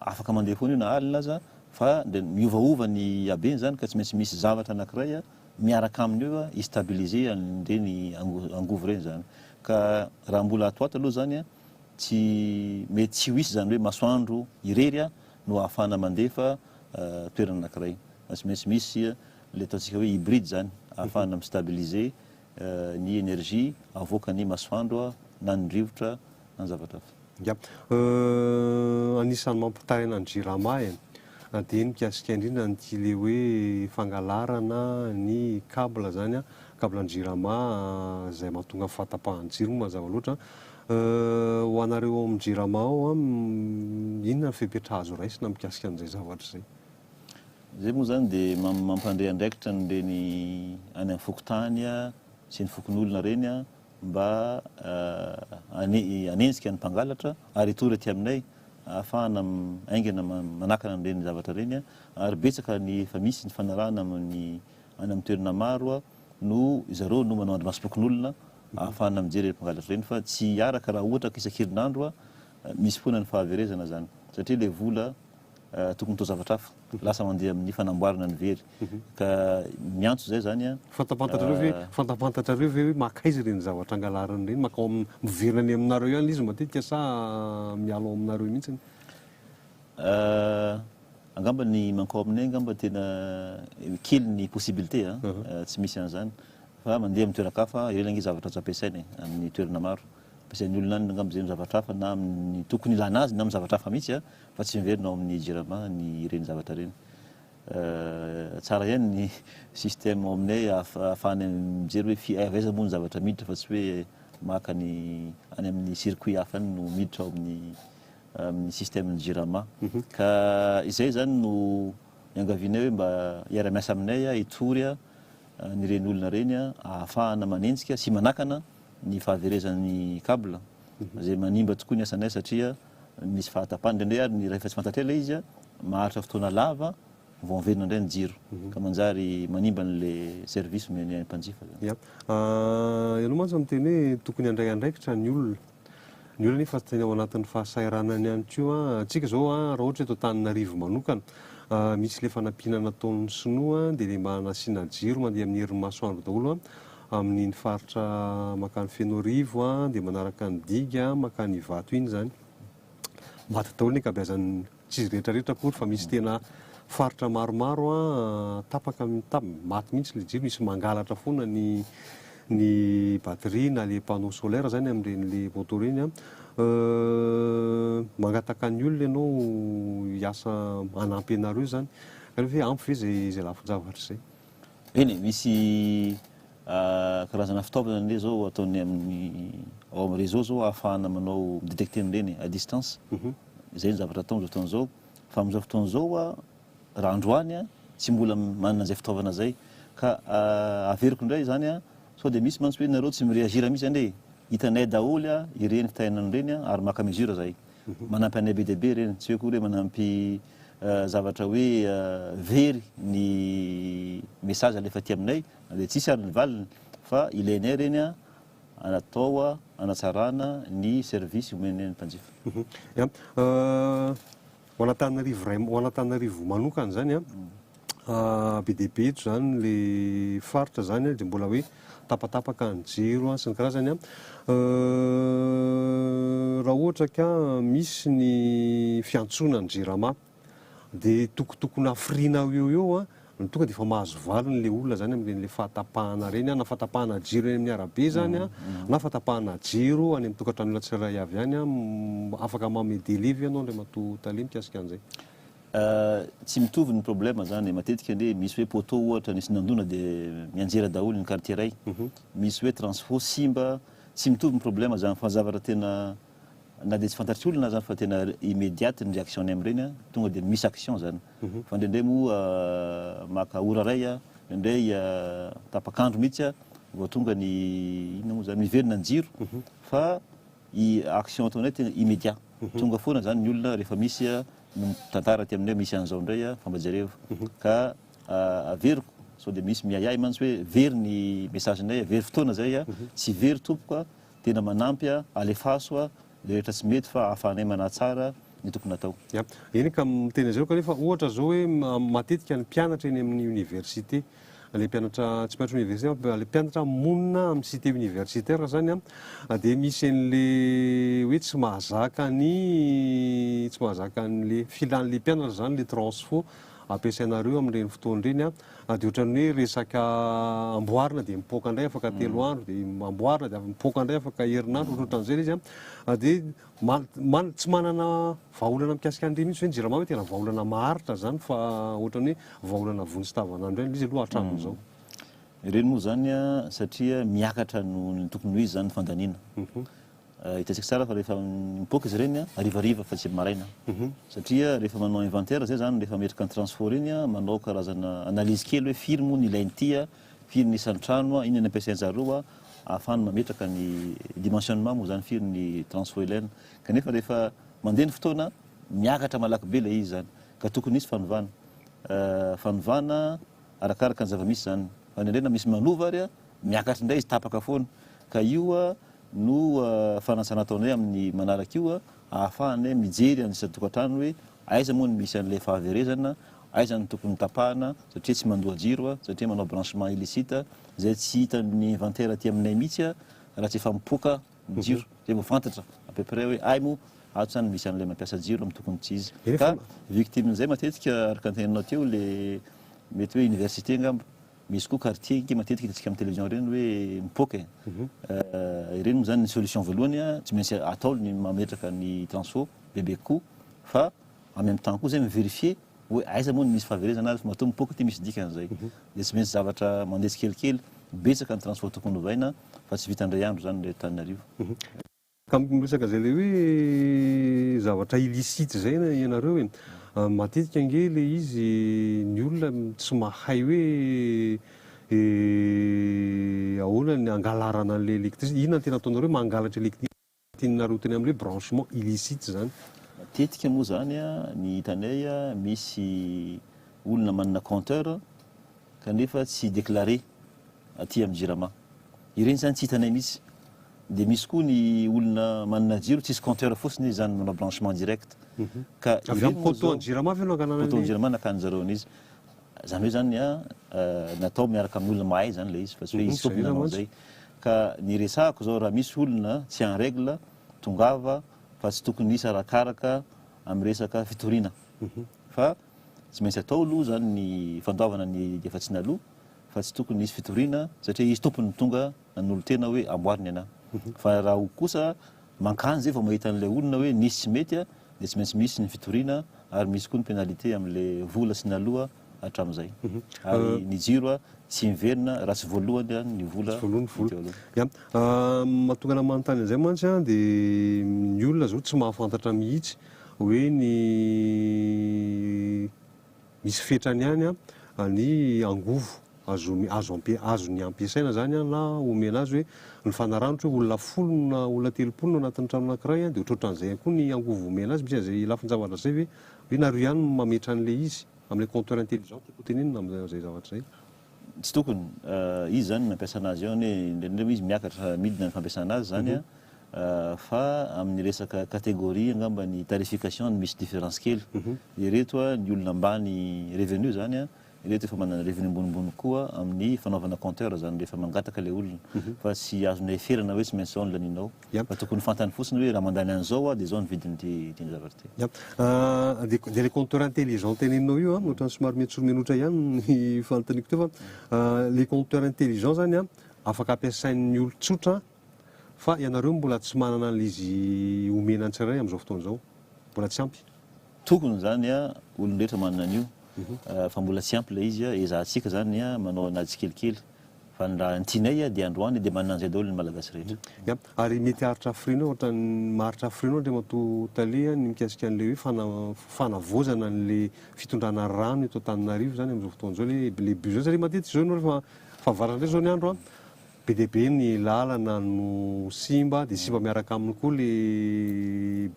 afaka mandeha foana io na alina aza fa de miovaova ny habeny zany ka tsy maintsy misy zavatra anankiray miaraka aminy eo i stabiliser an'ireny angovo ireny izany. Ka raha mbola ato ato aloha izany an, tsy mety tsy ho hisy izany hoe masoandro irery an no ahafahana mandefa toerana anankiray. Fa tsy maintsy misy ilay ataontsika hoe hybride izany, ahafahana mi-stabiliser ny energie avoakan'ny masoandro na ny rivotra na zavatra hafa. Ya. Anisan'ny mampitaina ny Jirama e. Na dia ny mikasika indrindra an'ity le hoe fangalarana ny cable zany an, cable ny Jirama zay mahatonga ny fahatapahan'ny jiro moa mazava loatra. Ho anareo ao amin'ny Jirama ao an, inona ny fepetra azo raisina mikasika an'izay zavatra izay? Izay moa izany dia mampandre andraikitra an'ireny any amin'ny fokontany sy ny fokonolona ireny an, mba hanenjika ny mpangalatra ary hitory aty aminay ahafahana haingana manakana an'ireny zavatra ireny ary betsaka ny efa misy ny fanarahana amin'ny any amin'ny toerana maro no zareo no manao andrimasom-pokonolona ahafahana mijery ireny mpangalatra ireny fa tsy hiaraka raha ohatra ka isan-kerinandro misy foana ny fahaverezana zany satria ilay vola tokony atao zavatra hafa, lasa mandeha amin'ny fanamboarana ny very, ka miantso izay izany an. Fantapantatrareo ve, fantapantatrareo ve hoe makaiza ireny zavatra angalariny ireny, makao am, miverina any aminareo ihany le izy matetika sa miala ao aminareo mihitsiny? Angamba ny mankao aminay angamba tena kely ny possibilité an, tsy misy an'izany, fa mandeha amin'ny toeran-kafa, ireny ange zavatra tsy ampiasaina e, amin'ny toerana maro, ampiasain'ny olona any angamba izay amin'ny zavatra hafa na amin'ny tokony ilana azy na amin'ny zavatra hafa mihitsy an, Fa tsy miverina ao amin'ny jirama ny ireny zavatra ireny. Tsara ihany ny système ao aminay ahafahana mijery hoe fi- avy aiza moa ny zavatra miditra fa tsy hoe maka ny any amin'ny circuit hafa any no miditra ao amin'ny amin'ny système ny jirama. Ka izay izany no iangavianay hoe mba hiara-miasa aminay hitory an'ireny olona ireny ahafahana manenjika sy manakana ny fahaverezan'ny cable izay manimba tokoa ny asanay satria Misy fahatapany indraindray ary ny rehefa tsy fantatr'ela ilay izy, maharitra fotoana lava vao averina indray ny jiro, ka manjary manimba an'ilay service omen'ny any mpanjifa izany. Ya. Ianao mantsy no miteny hoe tokony handray andraikitra ny olona. Ny olona anefa tena ao anatin'ny fahasahiranany ihany koa. Antsika izao raha ohatra hoe eto Antananarivo manokana, misy ilay fanampiana nataon'ny sinoa dia ilay mba nasiana jiro mandeha amin'ny herin'ny masoandro daholo Amin'iny faritra mankany Fenoarivo dia manaraka ny diga mankany Ivato iny izany. Maty daholo ny ankabeazan'ny, tsy izy rehetra rehetra akory fa misy tena faritra maromaro tapaka, maty mihitsy ilay jiro, misy mangalatra foana ny ny batterie na ilay panneau solaire izany amin'ireny ilay moto ireny. Mangataka ny olona ianao hiasa hanampy anareo izany. Ampy ve izay lafin-javatra izay? Eny e, misy karazana fitaovana an'ilay zao ataon'ny amin'ny ao amin'ny réseau zao ahafahana manao mi-détecter an'ireny e, à distance. Izay ny zavatra atao amin'izao fotoana izao. Fa amin'izao fotoana izao aho, raha androany aho, tsy mbola manana izay fitaovana izay. Ka averiko indray izany an, sao dia misy mantsy hoe nareo tsy mi-réagir mihitsy anie e. Hitanay daholo ireny kitaina an'ireny ary maka mesure izahay. Manampy anay be dia be ireny, tsy hoe akory hoe manampy. zavatra hoe very ny message alefa aty aminay dia tsisy ary ny valiny fa ilainay ireny an atao hanatsarana ny service omenay ny mpanjifa. Ho an'Antananarivo iray ho an'Antananarivo manokana izany an. be dia be eto izany ilay faritra izany dia mbola hoe tapatapaka ny jiro sy ny karazany. Raha ohatra ka misy ny fiantsoana ny Jirama dia tokotokona hafiriana eo ho eo no tonga dia efa mahazo valiny ilay olona izany amin'ireny fahatapahana ireny na fahatapahana jiro eny amin'ny arabe izany na fahatapahana jiro any amin'ny tokantranon'olona tsirairay avy any. Afaka manome devis ve ianao Andriamatoa Tale mikasika an'izay? Tsy mitovy ny problème zany e, matetika anie misy hoe poteau ohatra nisy nandona de mianjera daholo ny quartier ray, misy hoe transfo simba, tsy mitovy ny problème zany fa zavatra tena na de tsy fantatr'i olona aza fa tena immediate ny réaction-ny amin'ireny a, tonga de misy action zany. Fa ndraindray moa maka ora ray, ndraindray tapak'andro mihitsy vao tonga ny inona moa zany, miverina ny jiro fa i action ataonay tena immédiat, tonga foana zany ny olona rehefa misy ny mitantara aty aminay misy an'izao indray a, fa mba jereo ka averiko sao dia misy miahiahy mantsy hoe very ny message-nay a, very fotoana izay a, tsy very tompoko a, tena manampy a, alefaso a, ilay rehetra tsy mety fa ahafahanay manatsara ny tokony atao. Ya, eny ka miteny an'izay aho kanefa ohatra izao hoe matetika ny mpianatra eny amin'ny oniversite ilay mpianatra tsy mpianatra oniversite fa ilay mpianatra monina amin'ny cité universitaire zany an ah, dia misy an'le hoe tsy mahazaka ny tsy mahazaka an'le filan'le mpianatra zany le transfo ampiasainareo amin'ireny fotoana ireny an ah, dia ohatran'ny hoe resaka amboarina dia mipoaka indray afaka mm. telo andro dia amboarina dia mipoaka indray afaka herinandro ohatrohatran'izay izy an ah, dia Maly, tsy manana vahaolana mikasika an'ireny mihitsy ve ny Jirama hoe tena vahaolana maharitra izany fa ohatran'ny hoe vahaolana vonjy tavanandro ihany ilay izy aloha hatramin'izao? Hmm. Ireny moa izany satria miakatra noho ny tokony ho izy izany ny fandaniana. Mhm. Eh, hitantsika tsara fa rehefa mipoaka izy ireny harivariva fa tsy maraina mhm. satria rehefa manao inventaire zay zany rehefa metrika ny transfo reny manao karazana analyse kely hoe firy moa ny ilain'ity Firy ny isan'ny trano a, inona ny ampiasain-jareo a, ahafahany mametraka ny dimensionnement moa zany firy ny transfoelen. Kanefa rehefa mandeha ny fotoana, miakatra malaky be ilay izy zany. Ka tokony hisy fanovana. Fanovana arakaraka ny zava-misy zany. Fa indraindray na misy manova ary a, miakatra indray izy tapaka foana. Ka io a no fanatsara ataonay amin'ny manaraka io a, ahafahany mijery an'ny isan-tokantrano hoe Aiza moa no misy an'ilay fahaverezana, aiza no tokony tapahana satria tsy mandoa jiro, satria manao branchement illicite, izay tsy hitan'ny inventaire aty aminay mihitsy raha tsy efa mipoaka ny jiro, izay vao fantatra à peu près hoe ay moa ato zany misy an'ilay mampiasa jiro amin'ny tokony tsy izy. Ka victimen'izay matetika araka ny teneninao teo le mety hoe université angamba, misy koa quartier nge matetika hitantsika amin'ny télévision ireny hoe mipoaka e! ireny moa zany ny solution voalohany tsy maintsy atao ny mametraka ny transfo, bebe kokoa fa en même temps koa zay mi-verifier hoe aiza moa no misy fahaverezana ary matoa mipoaka aty misy dikany zay dia tsy maintsy zavatra mandeha tsikelikely, betsaka ny transport tokony hovaina fa tsy vita indray andro zany ilay Antananarivo. Ka miresaka zay le hoe zavatra illicite zay ianareo e, matetika ange le izy ny olona tsy mahay hoe ahoana ny hangalarana an'ilay electricité, inona no tena ataonareo hoe mangalatra electricité? Tianareo teny amle branchement illicite zany. Matetika moa zany ny hitanay misy olona manana compteur kanefa tsy declare aty am jirama. Ireny zany tsy hitanay mihitsy. Dia misy koa ny olona manana jiro tsisy compteur fotsiny izy zany manao branchement direct ka ireny moa zao. Avy am poteau an jirama ve no angalanan'ny. Poteau an jirama nakan'ny zareo an'izy. Izany hoe izany an, natao miaraka amin'ny olona mahay izany ilay izy fa tsy hoe izy fotsiny nanao an'izay. Ka ny resahako izao raha misy olona tsy en règle, tongava fa tsy tokony hisy arakaraka amin'ny resaka fitoriana. Fa tsy maintsy atao aloha izany ny fandoavana ny efa tsy naloa fa tsy tokony hisy fitoriana satria izy tompony no tonga Nanolo-tena hoe amboary ny anà. Fa raha ho kosa, mankany izay vao mahita an'ilay olona hoe nisy tsy mety dia tsy maintsy misy ny fitoriana ary misy koa ny pénalité amin'ilay vola sy ny aloha hatramin'izay. Ary ny jiro tsy miverina raha tsy voaloany ny vola ny teo aloha. Ya. Mahatonga anà manontany an'izay mantsy an, dia ny olona izao tsy mahafantatra mihitsy hoe ny. Misy fetrany ihany ny angovo azony ampiasaina izany na omena azy hoe nifanaraha ohatra hoe olona folo no na olona telopolo no anatin'ny trano anankiray dia ohatrohatran'izay ihany koa ny angovo omena azy. Misy an'izay lafin-javatra izay ve hoe nareo ihany no mametra an'ilay izy, amin'ilay compteur intelligent tiako hotenenina amin'izay zavatra izay. Tsy tokony. Izy zany nampiasa anazy eo anie indraindray izy miakatra midina ny fampiasana azy zany an, fa amin'ny resaka catégorie angamba ny tarification no misy différence kely. Ireto an ny olona ambany revenu zany an, ireto efa manana revenu ambonimbony kokoa amin'ny fanaovana compteur zany rehefa mangataka ilay olona. Fa tsy azonao heferana hoe tsy maintsy zao ny laninao. Dia mba tokony fantany fotsiny hoe raha mandany an'izao aho dia izao ny vidin'ity ity zavatra ity. Dia dia ilay compteur intelligent teneninao io an, ohatran'ny somary miantsorimenotra ihany ny fanontaniako teo fa ilay compteur intelligent izany an, afaka ampiasain'ny olon-tsotra fa ianareo mbola tsy manana an'ilay izy omena ny tsirairay amin'izao fotoana izao. Mbola tsy ampy. Tokony izany an, olon-drehetra manana an'io fa mbola tsy ampy ilay izy an, ezahantsika izany an manao an'ady tsikelikely. Fa ny raha tsinay dia androany dia manana an'izay daholo ny Malagasy rehetra. Ya, ary mety haharitra hafiriana ohatran'ny maharitra hafiriana Andriamatoa Tale ny mikasika an'ilay hoe fana, fanavaozana an'ilay fitondrana rano eto Antananarivo izany amin'izao fotoana izao ilay hoe le besoin satria matetika izao ianao rehefa fahavaratra indray izao ny andro an, be dia be ny lalana no simba dia simba miaraka aminy koa le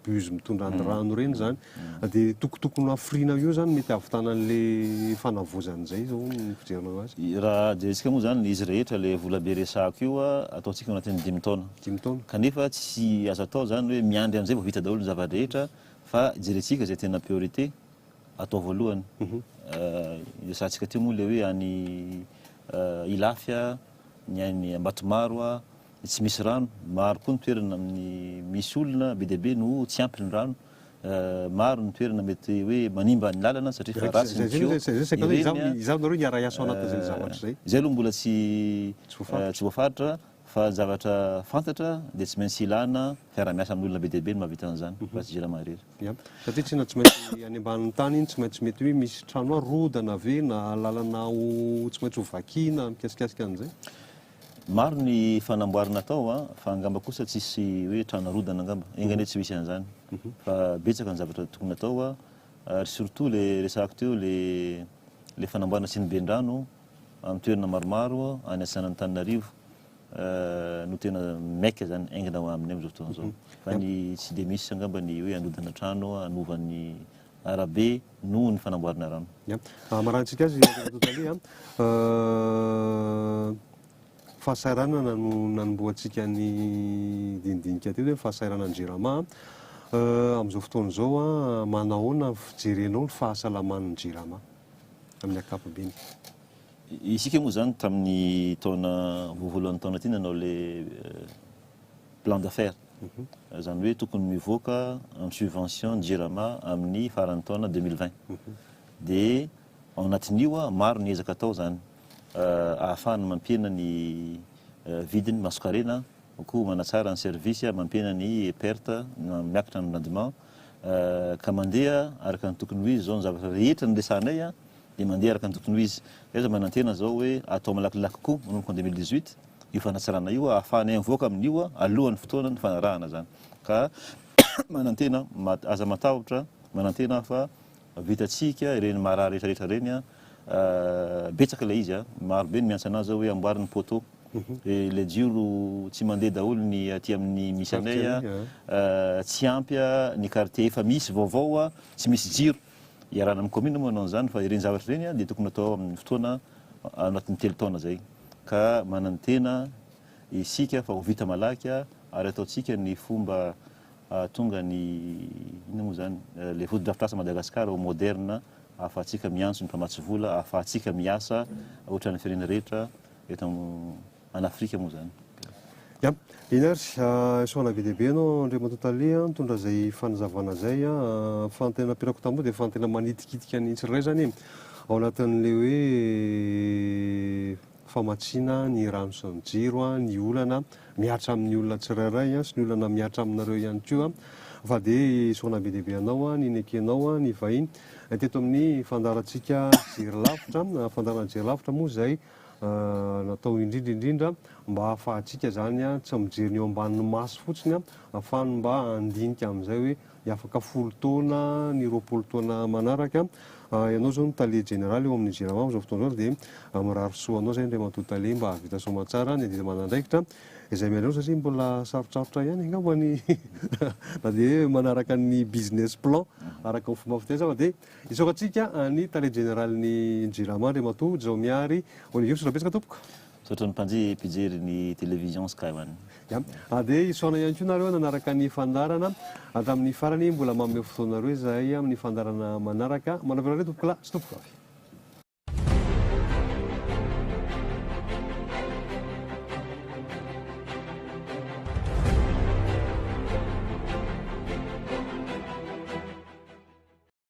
bus mitondra ny rano ireny izany. Dia toko tokony hafiriana eo izany mety hahavitana an'ilay fanavaozana izay izao ny fijerana ho azy? Raha jerentsika moa izany izy rehetra ilay vola be resahako io ataontsika ao anatin'ny dimy taona. Dimy taona. Kanefa tsy azo atao izany hoe miandry amin'izay vao vita daholo ny zava-drehetra fa jerentsika izay tena priorité atao voalohany. Resahantsika teo moa ilay hoe any Ilafy, ny any Ambatomaro, ny tsy misy rano. Maro koa ny toerana amin'ny misy olona be dia be no tsy ampy ny rano. maro ny toerana mety hoe manimba ny lalana satria efa ratsy ny tuyau ireny an, izaho nareo hiara-hiasa ao anatin'izay zavatra izay, izay aloha mbola tsy tsy voafaritra fa ny zavatra fantatra dia tsy maintsy ilana fiara-miasa amin'ny olona be dia be no mahavita an'izany fa tsy jirama irery. Ya, satria tena tsy maintsy any ambanin'ny tany iny tsy maintsy mety hoe misy trano arodana ve na lalana ho tsy maintsy ho vakiana mikasikasika an'izay? Maro ny fanamboarana atao a, fa angamba kosa tsisy hoe trano arodana angamba, enga anie tsy misy an'izany, fa betsaka ny zavatra tokony atao a, ary surtout le resahako teo le le fanamboarana siniben-drano amin'ny toerana maromaro any atsinanan'Antananarivo no tena maika zany, aingana ho aminy amin'izao fotoana izao, fa ny tsy de misy angamba ny hoe anodana trano hanova ny arabe noho ny fanamboarana rano. Ia. Hamarantsika azy Andriamatoa Tale a. Fahasahiranana no nanombohantsika ny dinidinika teto hoe ny fahasahiranan'ny Jirama a. Amin'izao fotoana izao a, manahoana ny fijerenao ny fahasalaman'ny Jirama amin'ny ankapobeny? Isika moa izany tamin'ny taona voalohany taona ity nanao ilay plan d'affaires, izany hoe tokony mivoaka amin'ny subvention ny Jirama amin'ny faran'ny taona deux mille vingt. Dia ao anatin'io, maro ny ezaka atao izany ahafahana mampihena ny vidin'ny masonkarena, koa manatsara ny service, mampihena ny perte na miakatra ny rendement, ka mandeha araka ny tokony ho izy izao ny zavatra rehetra niresahanay. dia mandeha araka ny tokony ho izy. Izahay izao manantena izao hoe atao malakilaky koa manomboka ny deux mille dix-huit io fanatsarana io ahafahanay mivoaka amin'io alohan'ny fotoanan'ny fanarahana izany. Ka manantena aza matahotra, manantena fa vitantsika ireny marary rehetrarehetra ireny. Betsaka ilay izy, maro be ny miantsa an'ahy izao hoe amboary ny poteau. Mhm. Eh, le jiro tsy mandeha daholo ny aty amin'ny misy anay tsy ampy ny quartier efa misy vaovao tsy misy jiro Iarahana amin'ny kaominina moa hanao an'izany fa ireny zavatra ireny dia tokony hatao amin'ny fotoana ao anatin'ny telo taona izay ka manantena isika fa ho vita malaky ary ataontsika ny fomba hahatonga ny inona moa izany ilay fotodrafitrasa Madagasikara ho moderina ahafahantsika miantso ny mpamatsy vola, ahafahantsika miasa ohatran'ny firenena rehetra eto an Afrika moa zany. Ya. Eny ary. Soana be dia be ianao Andriamatoa Tale a, mitondra izay fanazavana izay a. Fa ny tena nampiarako tamboho dia fa ny tena manitikitika ny tsirairay izany e, ao anatin'ilay hoe famatsiana ny rano sy ny jiro a, ny olana mihatra amin'ny olona tsirairay a, sy ny olana mihatra aminareo ihany koa a. Fa dia soana be dia be anao a, ny nekenao a, ny vahiny teto amin'ny fandaharantsika Jery lavitra. Fandaharana Jery lavitra moa izay Natao indrindra indrindra mba hahafahantsika izany tsy amin'ny mijery ny eo ambanin'ny maso fotsiny fa ny mba handinika amin'izay hoe hiafaka folo taona ny roapolo taona manaraka. Ianao izao no tale jeneraly eo amin'ny Jirama amin'izao fotoana izao dia mirary soa anao izay Andriamatoa Tale mba hahavita soamantsara ny adidy aman'andraikitra izay miandry anao satria mbola sarotsarotra ihany angamba ny na dia hoe manaraka ny business plan araka ny fomba fiteny sava dia Isaorantsika ny Tale Jeneralin'ny Jirama, Andriamatoa Jaomihary Olivius. Rahabetsaka tompoko. Misaotra ny mpanjihy mpijery ny Télévision Sky One. Ya. Ary dia isaorana ihany koa nareo nanaraka ny fandaharana hatramin'ny farany. Mbola manome fotoanareo izahay amin'ny fandaharana manaraka. Manavona anareo tompoko lahy sy tompoko vavy.